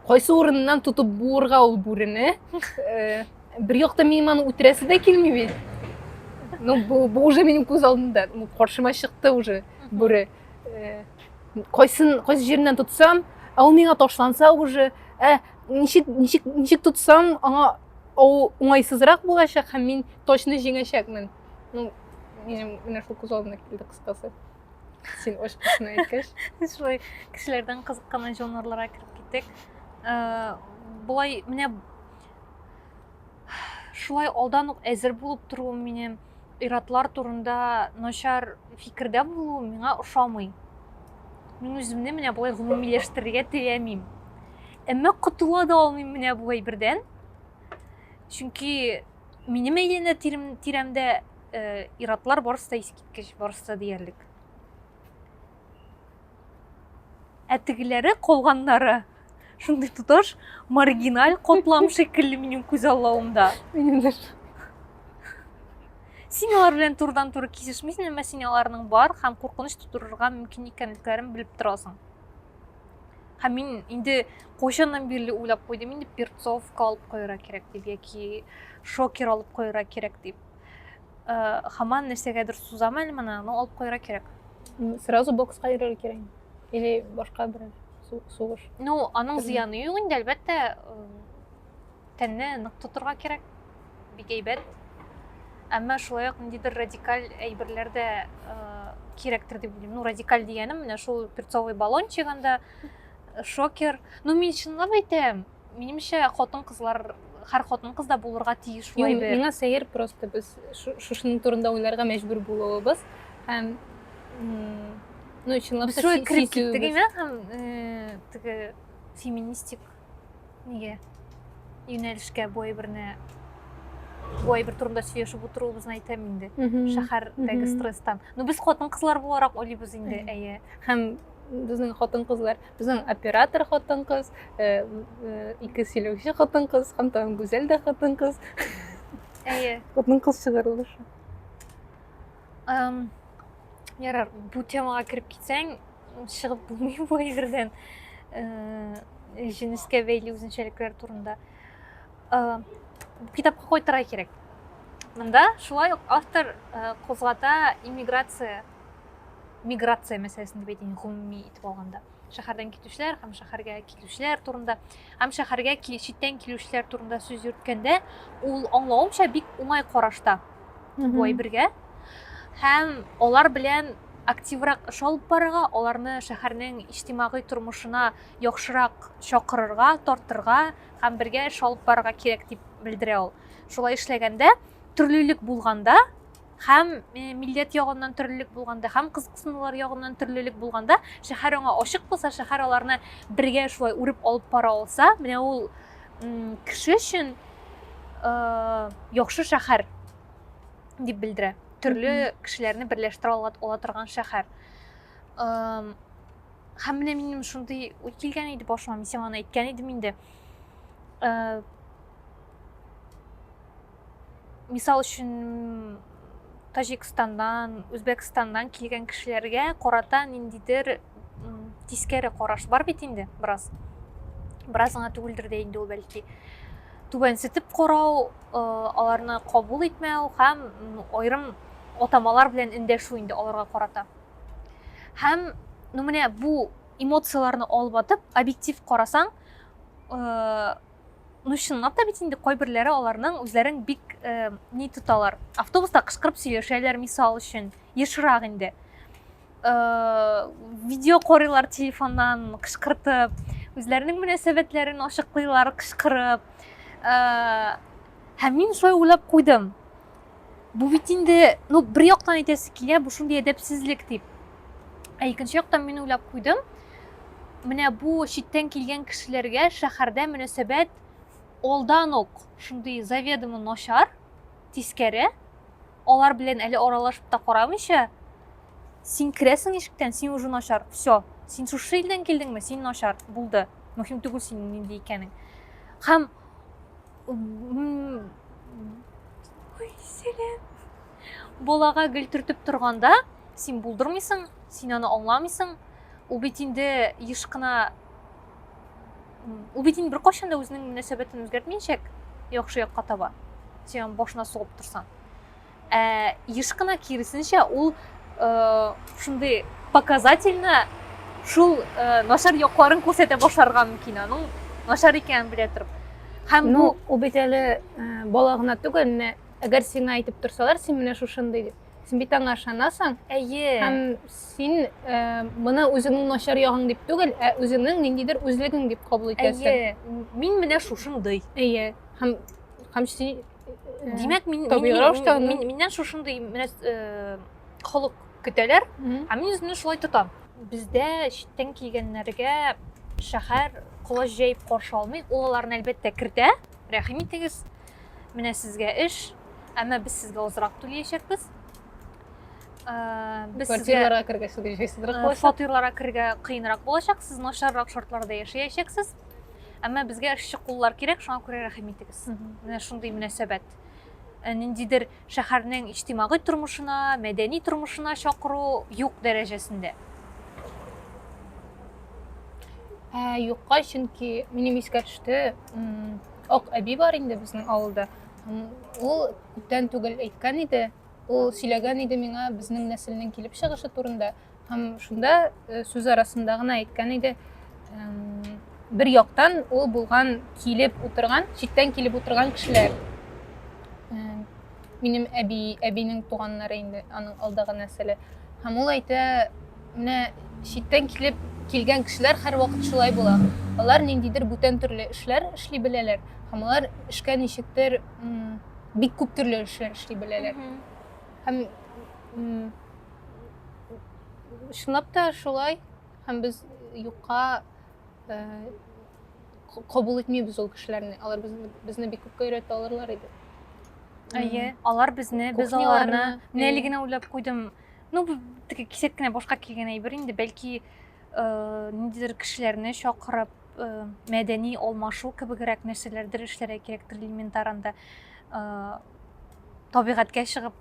кайсы урыннан тотып буырга ул бүрене э, бер якта минем аны үтерәсе дә килми бит ну бу, бу уже минем күз алдымда ну, каршыма чыкты уже бүре кайсын кайсы җиреннән тотсам ә ул миңа ташланса уже ә ничек ничек ничек тотсам аңа Ул уңайсызрак булачак һәм мин точно җиңәчәкмен. Ну, минем менә шул күз алдына килде кыскасы. Син очкысны әйткәч. Шулай кешеләрдән кызыккан жанрларга кереп киттек. Э, болай менә шулай алдан ук әзер булып торуы минем иратлар турында начар фикердә булуы миңа ошамый мин үземне менә болай гомумиләштерергә теләмим Әмма котыла да алмыйм менә бу әйбердән. Чөнки минем әйләнә тирәмдә э, иратлар барысы да искиткеч, барысы да диярлек. Ә тегеләре калганнары шундый тоташ маргиналь котлам шикелле минем күз аллавымда. Минем дә син алар белән турыдан туры кисешмисең әмма син аларның бар һәм куркыныч тудырырга мөмкин икәнлекләрен белеп торасың һәм мин инде кайчаннан бирле уйлап куйдым инде перцовка алып куярга кирәк дип яки шокер алып куярга кирәк дип э, хаман нәрсәгәдер сузам әле моны но алып куярга кирәк сразу бокска йөрергә кирәк или башка бер сугыш ну аның зыяны юк инде әлбәттә э, тәнне нык тотырга кирәк бик әйбәт. Әмма шулай ук ниндидер радикаль әйберләр дә кирәктер дип уйлыйм. Ну, радикаль дигәнем менә шул перцовый баллончик анда шокер. Ну, мин чынлап әйтәм, минемчә хатын-кызлар һәр хатын кызда булырга тиеш шулай бер. Миңа сәер просто без шушының турында уйларга мәҗбүр булуыбыз һәм ну чынлап та шулай киттек инде һәм теге феминистик неге юнәлешкә бу әйберне бу әйбер турында сөйләшеп утыруыбызны әйтәм инде шәһәрдәге стресстан ну без хатын кызлар буларак уйлыйбыз инде әйе һәм безнең хатын кызлар безнең оператор хатын кыз э, э, ике сөйләүче хатын кыз һәм тагын гүзәл дә хатын кыз әйе хатын кыз чыгарылышы Um, ярар, бу темага кереп китсәң, чыгып булмый бу әйбердән. Э, җенескә бәйле үзенчәлекләр турында. Э, китапка кайтырга кирәк. Монда шулай ук автор э, кузгата иммиграция миграция мәсьәләсен дип әйтәйин гомуми итеп алганда шәһәрдән китүчеләр һәм шәһәргә килүчеләр турында һәм шәһәргә читтән килүчеләр турында сүз йөрткәндә ул аңлавымча бик уңай карашта бу әйбергә һәм алар белән активрак эш алып барырга аларны шәһәрнең иҗтимагый тормышына яхшырак чакырырга тартырга һәм бергә эш алып барырга кирәк дип белдерә ул шулай эшләгәндә төрлелек булганда Һәм милләт ягыннан төрлелек булганда, һәм кызыксынулар ягыннан төрлелек булганда, шәһәр аңа ачык булса, шәһәр аларны бергә шулай үреп алып бара алса, менә ул кеше өчен яхшы шәһәр дип белдерә. Төрле кешеләрне берләштерә ала, ала торган шәһәр. Һәм менә минем шундый уй килгән иде башыма, мин сиңа аны әйткән идем инде. мисал өчен таҗикстаннан үзбәкстаннан килгән кешеләргә карата ниндидер тискәре караш бар бит инде бераз бераз гына түгелдер дә инде ул бәлки түбәнсетеп карау э, аларны кабул итмәү һәм аерым атамалар белән эндәшү инде аларга карата һәм ну менә бу эмоцияларны алып атып объектив карасаң э, Ну, чынлап та бит инде кайберләре аларның үзләрен бик э, ни тоталар. Автобуста кычкырып сөйләшәләр, мисал өчен, ешрак инде. Э, видео карыйлар телефоннан кычкыртып, үзләренең мөнәсәбәтләрен ачыклыйлар кычкырып. Э, һәм мин шулай уйлап куйдым. бу бит инде ну бер яктан әйтәсе килә бу шундый әдәпсезлек дип ә икенче яктан мин уйлап куйдым менә бу читтән килгән кешеләргә шәһәрдә мөнәсәбәт алдан ук шундый заведомо начар тискәре алар белән әле аралашып та карамыйча син керәсең ишектән син уже начар все син шушы илдән килдеңме син начар булды мөһим түгел синең нинди икәнең һәм Ой, сәләм. Балага гел төртеп торганда, син булдырмыйсың, син аны аңламыйсың. Ул бит инде еш кына ул бит инде беркайчан да үзенең мөнәсәбәтен үзгәртмәячәк яхшы якка таба. Син башына сугып торсаң. Ә еш кына киресенчә ул шундый показательно шул начар якларын күрсәтә башларга мөмкин аның начар икәнен белә торып һәм ну ул бит әле бала гына түгел менә әгәр сиңа әйтеп торсалар син менә шушындый дип син бит аңа ышанасың әйе һәм син ә, моны үзеңнең начар ягың дип түгел ә үзеңнең ниндидер үзлегең дип кабул итәсең әйе мин менә шушындый әйе һәм һәм син димәк мин, мин, мин, мин, миннән шушындый э, холык көтәләр ә мин үземне шулай тотам бездә читтән килгәннәргә шәһәр колач җәеп каршы алмый ул аларны әлбәттә кертә рәхим итегез менә сезгә эш әмма без сезгә азрак түләячәкбез э, без квартираларга керергә э, фатирларга керергә кыенрак булачак сез начаррак шартларда яшәячәксез әмма безгә эшче куллар кирәк шуңа күрә рәхим итегез менә шундый мөнәсәбәт э, ниндидер шәһәрнең иҗтимагый тормышына мәдәни тормышына чакыру юк дәрәҗәсендә ә, юкка чөнки минем искә төште ак әби бар инде безнең авылда ул күптән түгел әйткән иде ул сөйләгән иде миңа безнең нәселнең килеп чыгышы турында Һәм шунда э, сүз арасында гына әйткән иде, бер яктан ул булган килеп утырган, читтән килеп утырган кешеләр. Э, минем әби, әбинең туганнары инде аның алдагы нәселе. Һәм ул әйтә, менә читтән килеп килгән кешеләр һәрвакыт шулай була. Алар ниндидер бүтән төрле эшләр эшли беләләр һәм алар эшкә ничектер бик күп төрле эшләр эшли беләләр. Һәм чынлап та шулай һәм без юкка э, кабул итмибез ул кешеләрне алар безне, безне бик күпкә өйрәтә алырлар иде әйе алар безне без аларны менә әле генә уйлап куйдым ну бу теге кисәк кенә башка килгән әйбер инде бәлки э, ниндидер кешеләрне чакырып э, мәдәни алмашу кебегрәк нәрсәләрдер эшләргә кирәктер элементарында э, табигатькә чыгып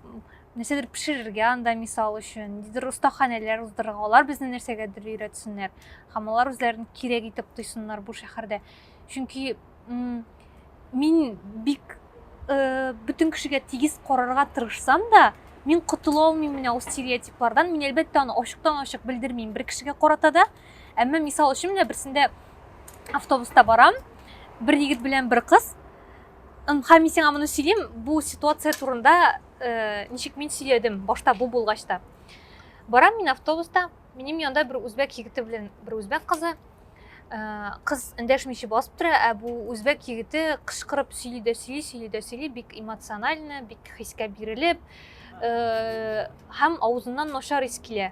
Нәрсәдер пешерергә анда, мисал өчен, ниндидер остаханәләр уздырырга, алар безне нәрсәгәдер өйрәтсеннәр һәм алар үзләрен кирәк итеп тойсыннар бу шәһәрдә. Чөнки мин бик э, бөтен кешегә тигез карарга тырышсам да, мин котыла алмыйм менә ул стереотиплардан. Мин әлбәттә аны ачыктан-ачык белдермим бер кешегә карата да. Әмма мисал өчен менә берсендә автобуста барам, бер егет белән бер кыз. Һәм мин сиңа моны сөйлим, бу ситуация турында Э, ничек мин сөйләдем башта бу булгач та барам мин автобуста минем янда бер үзбәк егете белән бер үзбәк кызы э, кыз эндәшмичә басып тора ә бу үзбәк егете кычкырып сөйли дә сөйли сөйли дә сөйли бик эмоционально бик хискә бирелеп э, һәм авызыннан начар ис килә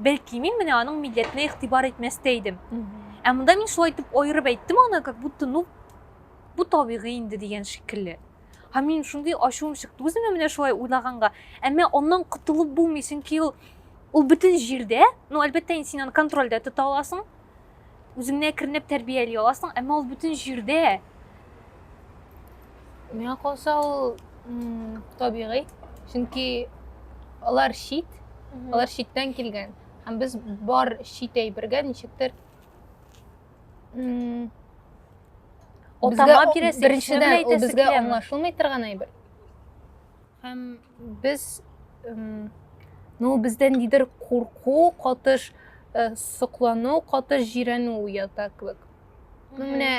Бәлки, мин менә аның милләтенә игътибар итмәс тә идем. Ә монда мин шулай итеп аерып әйттем аны, как будто, ну, бу табигый инде дигән шикелле. Һәм мин шундый ачуым чыкты үземә менә шулай уйлаганга. Әмма аннан котылып булмый, чөнки ул ул бөтен җирдә, ну, әлбәттә, инде син аны контрольдә тота аласың. Үзеңне әкренләп тәрбияли аласың, әмма ул бөтен җирдә. Миңа калса ул табигый, чөнки алар чит, алар читтән килгән. Һәм без бар чит әйбергә ничектер Отама бирәсе, беренчедән ул безгә аңлашылмый торган әйбер. Һәм Без ну бездән нидер курку, катыш э, соклану, катыш җирәнү уята кебек. Ну менә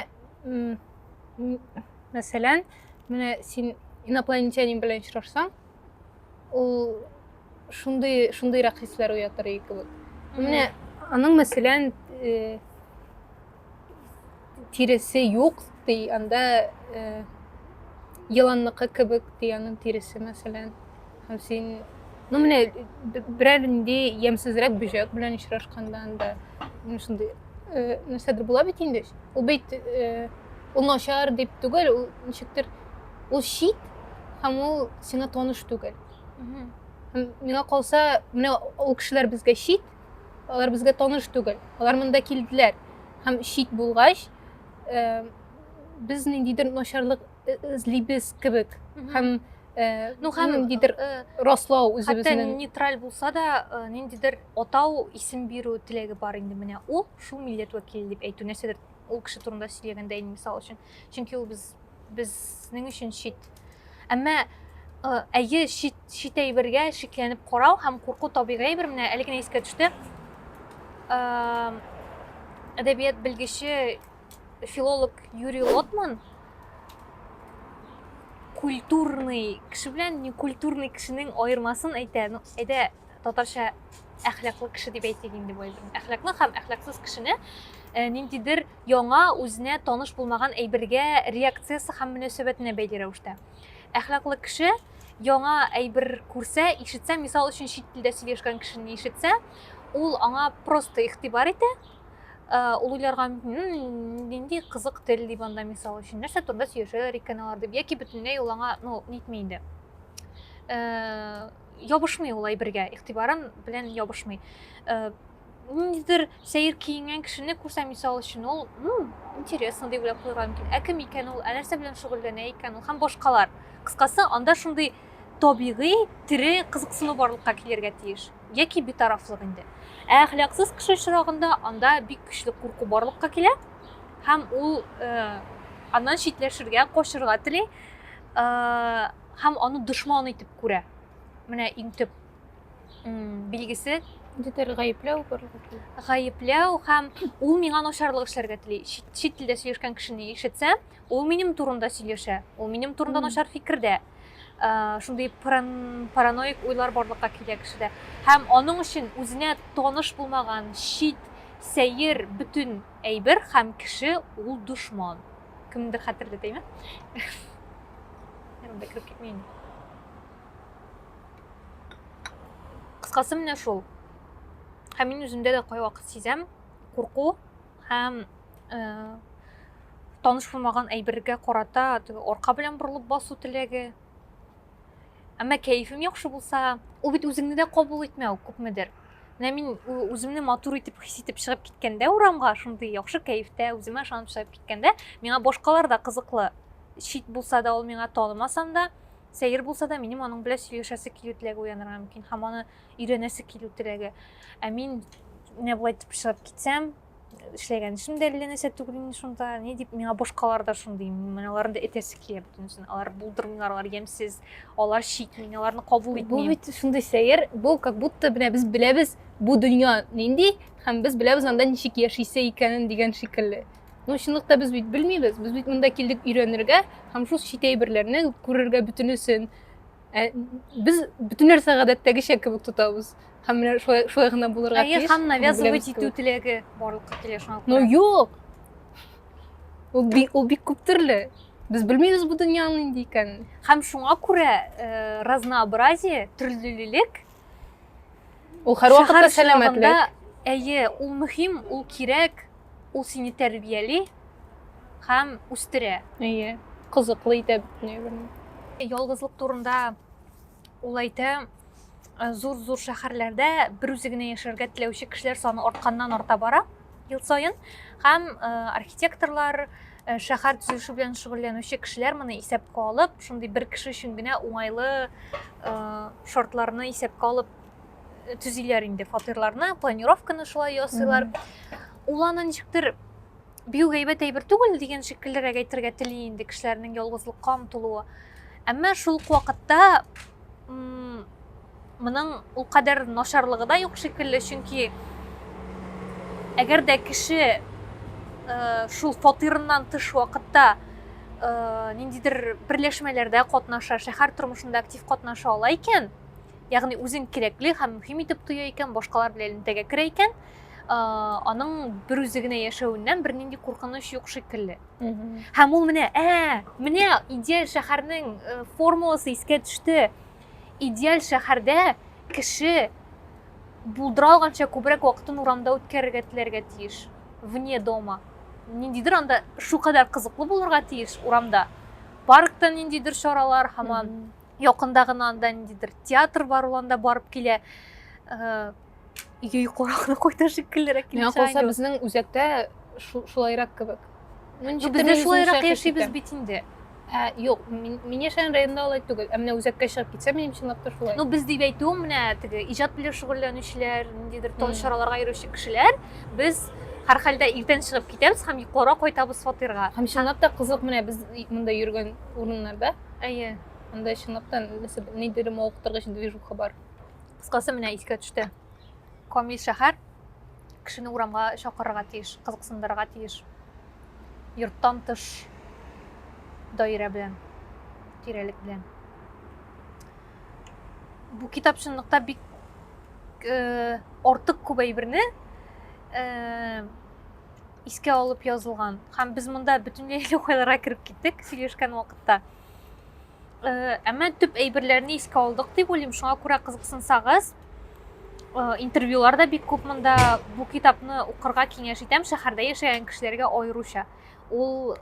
мәсәлән, менә син инопланетянин белән очрашсаң, ул шундый шундыйрак хисләр уятыр кебек. Менә аның мәсәлән э, тиресе юк, ди, анда э, еланныкы кебек, ди, аның тиресе, мәсәлән. Һәм син, ну, менә берәр инде ямсызрак бөҗәк белән очрашканда анда, ну, шундый э, нәрсәдер була бит инде. Ул бит э, ул начар дип түгел, ул ничектер ул шит һәм ул сиңа таныш түгел. Миңа калса, менә ул кешеләр безгә шит, Алар безгә таныш түгел. Алар монда килделәр һәм чит булгач, э, без ниндидер начарлык э, эзлибез кебек һәм э, Ну, һәм, ниндидер э, раслау Хәтта үзебезнең. нейтраль булса да, э, ниндидер атау, исем бирү теләге бар инде менә. Ул шул милләт вәкиле дип әйтү нәрсәдер ул кеше турында сөйләгәндә инде мисал өчен. Чөнки ул без безнең өчен чит. Әмма әйе, чит, чит әйбергә шикләнеп карау һәм курку табигый әйбер. Менә әле генә искә төште. Әдәбият белгече филолог Юрий Лотман культурный кеше белән некультурный кешенең аермасын әйтә. Ну, әйдә татарча әхлаклы кеше дип әйтик инде бу әйберне. Әхлаклы һәм әхлаксыз кешене ниндидер яңа, үзенә таныш булмаган әйбергә реакциясе һәм мөнәсәбәтенә бәйле рәвештә. Әхлаклы кеше яңа әйбер күрсә, ишетсә, мисал өчен чит телдә сөйләшкән кешене ишетсә, ул аңа просто игътибар итә, ул уйларга мөмкин нинди кызык тел дип анда мисал өчен нәрсә турында сөйләшәләр икән алар дип яки бөтенләй ул аңа ну нитми инде ябышмый ул әйбергә игътибарын белән ябышмый ниндидер сәер киенгән кешене күрсә мисал өчен ул интересно дип уйлап куярга мөмкин ә кем икән ул ә нәрсә белән шөгыльләнә икән ул һәм башкалар кыскасы анда шундый табигый тере кызыксыну барлыкка килергә тиеш яки битарафлык инде ә әхлаксыз кеше очрагында анда бик көчле курку барлыкка килә һәм ул э, аннан читләшергә качырга тели э, һәм аны дошман итеп күрә менә иң төп билгесе Дидер гаепләү барлыгы. Гаепләү һәм ул миңа начарлык эшләргә тели. Чит телдә сөйләшкән кешене ишетсә, ул минем турында сөйләшә. Ул минем турында начар фикердә. Э, шундый параноик уйлар барлыкка килә кешедә. Һәм аның өчен үзенә таныш булмаган чит сәер бөтен әйбер һәм кеше ул дошман. Кемдер хәтерләтәме? Ярымда кереп китмәйме? кыскасы менә шул һәм мин үземдә дә кайвакыт сизәм курку һәм э, таныш булмаган әйбергә карата арка белән борылып басу теләге әмма кәефем яхшы булса ул бит үзеңне дә кабул итмәү күпмедер менә мин үземне матур итеп хис итеп чыгып киткәндә урамга шундый яхшы кәефтә үземә ышанып чыгып киткәндә миңа башкалар да кызыклы чит булса да ул миңа танымасам да Сәер булса да, минем аның белән сөйләшәсе килү теләге уянырга мөмкин һәм аны өйрәнәсе килү теләге. Ә мин менә болай итеп чыгып китсәм, эшләгән эшем дә әллә нәрсә түгел инде шунда, ни дип миңа башкалар да шундый, мин аларны да этәсе килә бөтенесен. Алар булдырмыйлар, алар ямьсез, алар чит, мин аларны кабул итмим. Бу бит шундый сәер, бу как будто менә без беләбез бу дөнья нинди һәм без беләбез анда ничек яшисе икәнен дигән шикелле. Ну, чынлыкта без бит белмибез. Без бит монда килдек өйрәнергә һәм шул чит әйберләрне күрергә бөтенесен. Ә, без бөтен нәрсә гадәттәгечә кебек тотабыз. Һәм менә шулай шулай гына булырга тиеш. Әйе, һәм навязывать итү теләге барлыкка килә шуңа күрә. Ну, юк. Ул бик ул бик күп төрле. Без белмибез бу дөньяның нинди икәнен. Һәм шуңа күрә э, разнообразие, төрлелек Ул һәрвакытта сәламәтлек. Әйе, ул мөһим, ул кирәк, ул сине тәрбияли һәм үстерә. Әйе, кызыклы итә бөтенләй. Ялгызлык турында ул әйтә, зур-зур шәһәрләрдә бер үзе генә яшәргә теләүче кешеләр саны артканнан-арта бара. Ел саен һәм э, архитекторлар, э, шәһәр төзелеше белән шөгыльләнүче кешеләр моны исәпкә алып, шундый бер кеше өчен генә уңайлы э, шартларны исәпкә алып төзиләр инде фатирларны, планировканы шулай ясыйлар. Ул аны ничектер бию гайбәт әйбер түгел дигән шикеллерәк әйтергә тели инде кешеләрнең ялгызлыкка омтылуы. Әмма шул ук вакытта Моның ул кадәр начарлыгы да юк шикелле, чөнки әгәр дә кеше э, шул фатирыннан тыш вакытта э, ниндидер берләшмәләрдә катнаша, шәһәр тормышында актив катнаша ала икән, ягъни үзен кирәкле һәм мөһим итеп тоя икән, башкалар белән элемтәгә керә икән, э, аның бер үзе генә яшәвеннән бернинди куркыныч юк шикелле. Һәм ул менә, ә, менә идеаль шәһәрнең формуласы искә төште. Идеаль шәһәрдә кеше булдыра алганча күбрәк вакытын урамда үткәрергә теләргә тиеш. Вне дома. Ниндидер анда шу кадәр кызыклы булырга тиеш урамда. Паркта ниндидер чаралар, һаман якында гына анда ниндидер театр бар, ул анда барып килә. Э, Өйгә йокларак та куйды шикеллерәк килеп Миңа чыга калса, инде. безнең үзәктә шу- шулайрак кебек. Ну, ничек Без тә дә мин шулайрак үземчә яшибез хәситтә. бит инде. Ә, юк, мин, мин яшәгән районда алай түгел. Ә менә үзәккә чыгып китсә, минем чынлап та шулай. Ну, без дип әйтүем менә теге иҗат белән шөгыльләнүчеләр, ниндидер тон Мгм. чараларга йөрүче кешеләр, без һәрхәлдә иртән чыгып китәбез һәм йокларга кайтабыз фатирга. Һәм чынлап та кызык менә без и- монда йөргән урыннарда. Әйе. Анда чынлап та нәрсә, ниндидер мавыктыргыч движуха бар. Кыскасы менә искә төште. Камил шәһәр кешене урамга чакырырга тиеш, кызыксындырырга тиеш. Йорттан тыш даирә белән, тирәлек белән. Бу китап чынлыкта бик э, артык күп әйберне э, искә алып язылган. Һәм без монда бөтенләй лукайларга кереп киттек сөйләшкән вакытта. Э, әмма төп әйберләрне искә алдык дип уйлыйм шуңа күрә кызыксынсагыз э, интервьюлар да бик күп монда бу китапны укырга киңәш итәм шәһәрдә яшәгән кешеләргә аеруча ул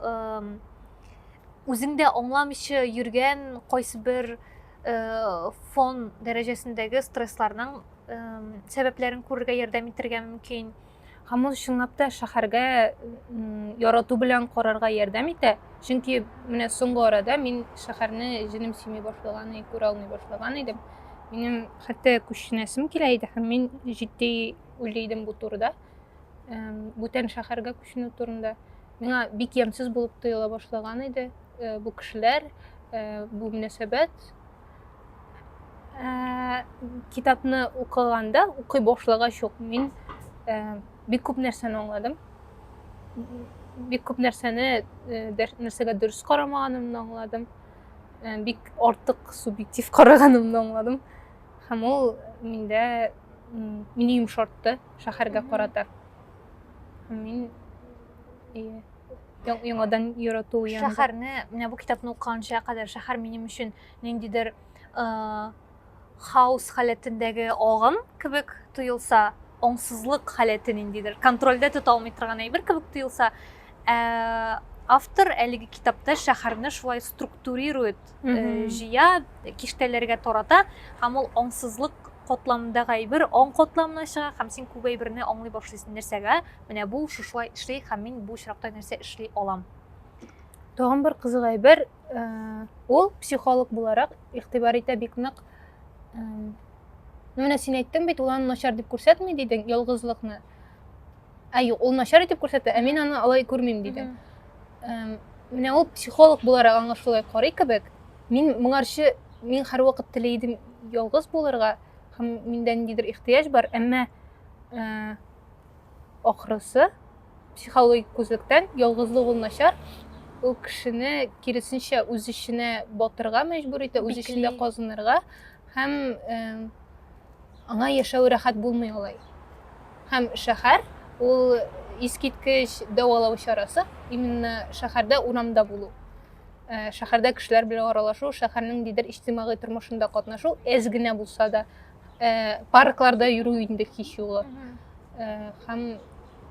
үзең дә аңламыйча йөргән кайсы бер э, фон дәрәҗәсендәге стрессларның сәбәпләрен күрергә ярдәм итәргә мөмкин һәм ул чынлап та шәһәргә ярату белән карарга ярдәм итә чөнки менә соңгы арада мин шәһәрне җенем сөйми башлаган и күрә алмый башлаган идем минем хәтта күченәсем килә иде һәм мин җитди уйлый идем бу турыда бүтән шәһәргә күченү турында миңа бик ямьсез булып тоела башлаган иде э, бу кешеләр э, бу мөнәсәбәт ә, китапны укыганда укый башлагач ук мин ә, бик күп нәрсәне аңладым бик күп нәрсәне нәрсәгә дөрес карамаганымны аңладым бик артык субъектив караганымны аңладым һәм ул миндә мине йомшартты шәһәргә карата мин яңадан ярату янында шәһәрне менә бу китапны укыганча кадәр шәһәр минем өчен ниндидер хаос халәтендәге агым кебек тоелса аңсызлык халәте ниндидер контрольдә тота алмый торган әйбер кебек тоелса ә, автор әлеге китапта шәһәрне шулай структурирует э, җыя киштәләргә тарата һәм ул аңсызлык котламдагы әйбер аң котламына чыга һәм син күп әйберне аңлый башлыйсың нәрсәгә Менә бу шушылай эшли һәм мин бу очракта нәрсә эшли алам? Тагын бер кызык әйбер, э, ул психолог буларак игътибар итә бик нык. Э, ну менә син әйттең бит, ул аны начар дип күрсәтми дидең, ялгызлыкны. Ә юк, ул начар итеп күрсәтә, ә мин аны алай күрмим диде. Э, менә ул психолог буларак аңа шулай карый кебек. Мин моңарчы мин һәрвакыт теләй идем ялгыз булырга һәм миндә ниндидер ихтыяҗ бар, әмма Ахрысы, психологик күзлектән ялгызлык ул начар, ул кешене киресенчә үз эченә батырга мәҗбүр итә, үз эчендә казынырга һәм э, аңа яшәү рәхәт булмый алай. Һәм шәһәр ул искиткеч дәвалау чарасы, именно шәһәрдә урамда булу. Э, шәһәрдә кешеләр белән аралашу, шәһәрнең дидер иҗтимагый тормышында катнашу әз генә булса да Э, паркларда йөрү инде һич югы э, һәм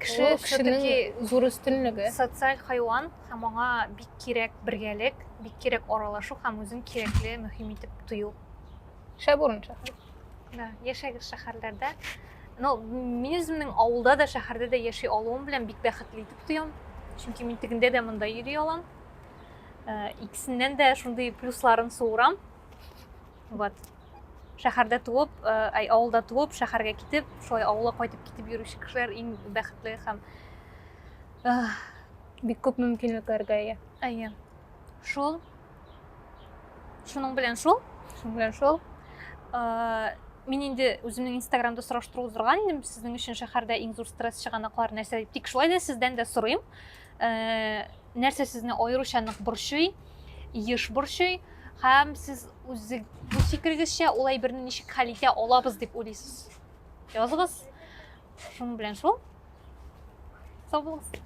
кеше кешенең зур өстенлеге социаль хайван һәм аңа бик кирәк бергәлек бик кирәк аралашу һәм үзен кирәкле мөһим итеп тою шәп урын шәһәр да яшәгез шәһәрләрдә ну мин үземнең авылда да шәһәрдә дә яши алуым белән бик бәхетле итеп тоям чөнки мин тегендә дә монда йөри алам э, икесеннән дә шундый плюсларын суырам вот шәһәрдә туып әй авылда туып шәһәргә китеп шулай авылга кайтып китеп йөрүче кешеләр иң бәхетле һәм бик күп мөмкинлекләргә ия әйе шул шуның белән шул шуның белән шул мин инде үземнең инстаграмда сораштыру уздырган идем сезнең өчен шәһәрдә иң зур стресс чыганаклар нәрсә дип тик шулай да сездән дә сорыйм нәрсә сезне аеруча нык борчый еш борчый һәм сез үзе үз фикерегезчә ул әйберне ничек хәл итә алабыз дип уйлыйсыз языгыз шуның белән шул сау булыгыз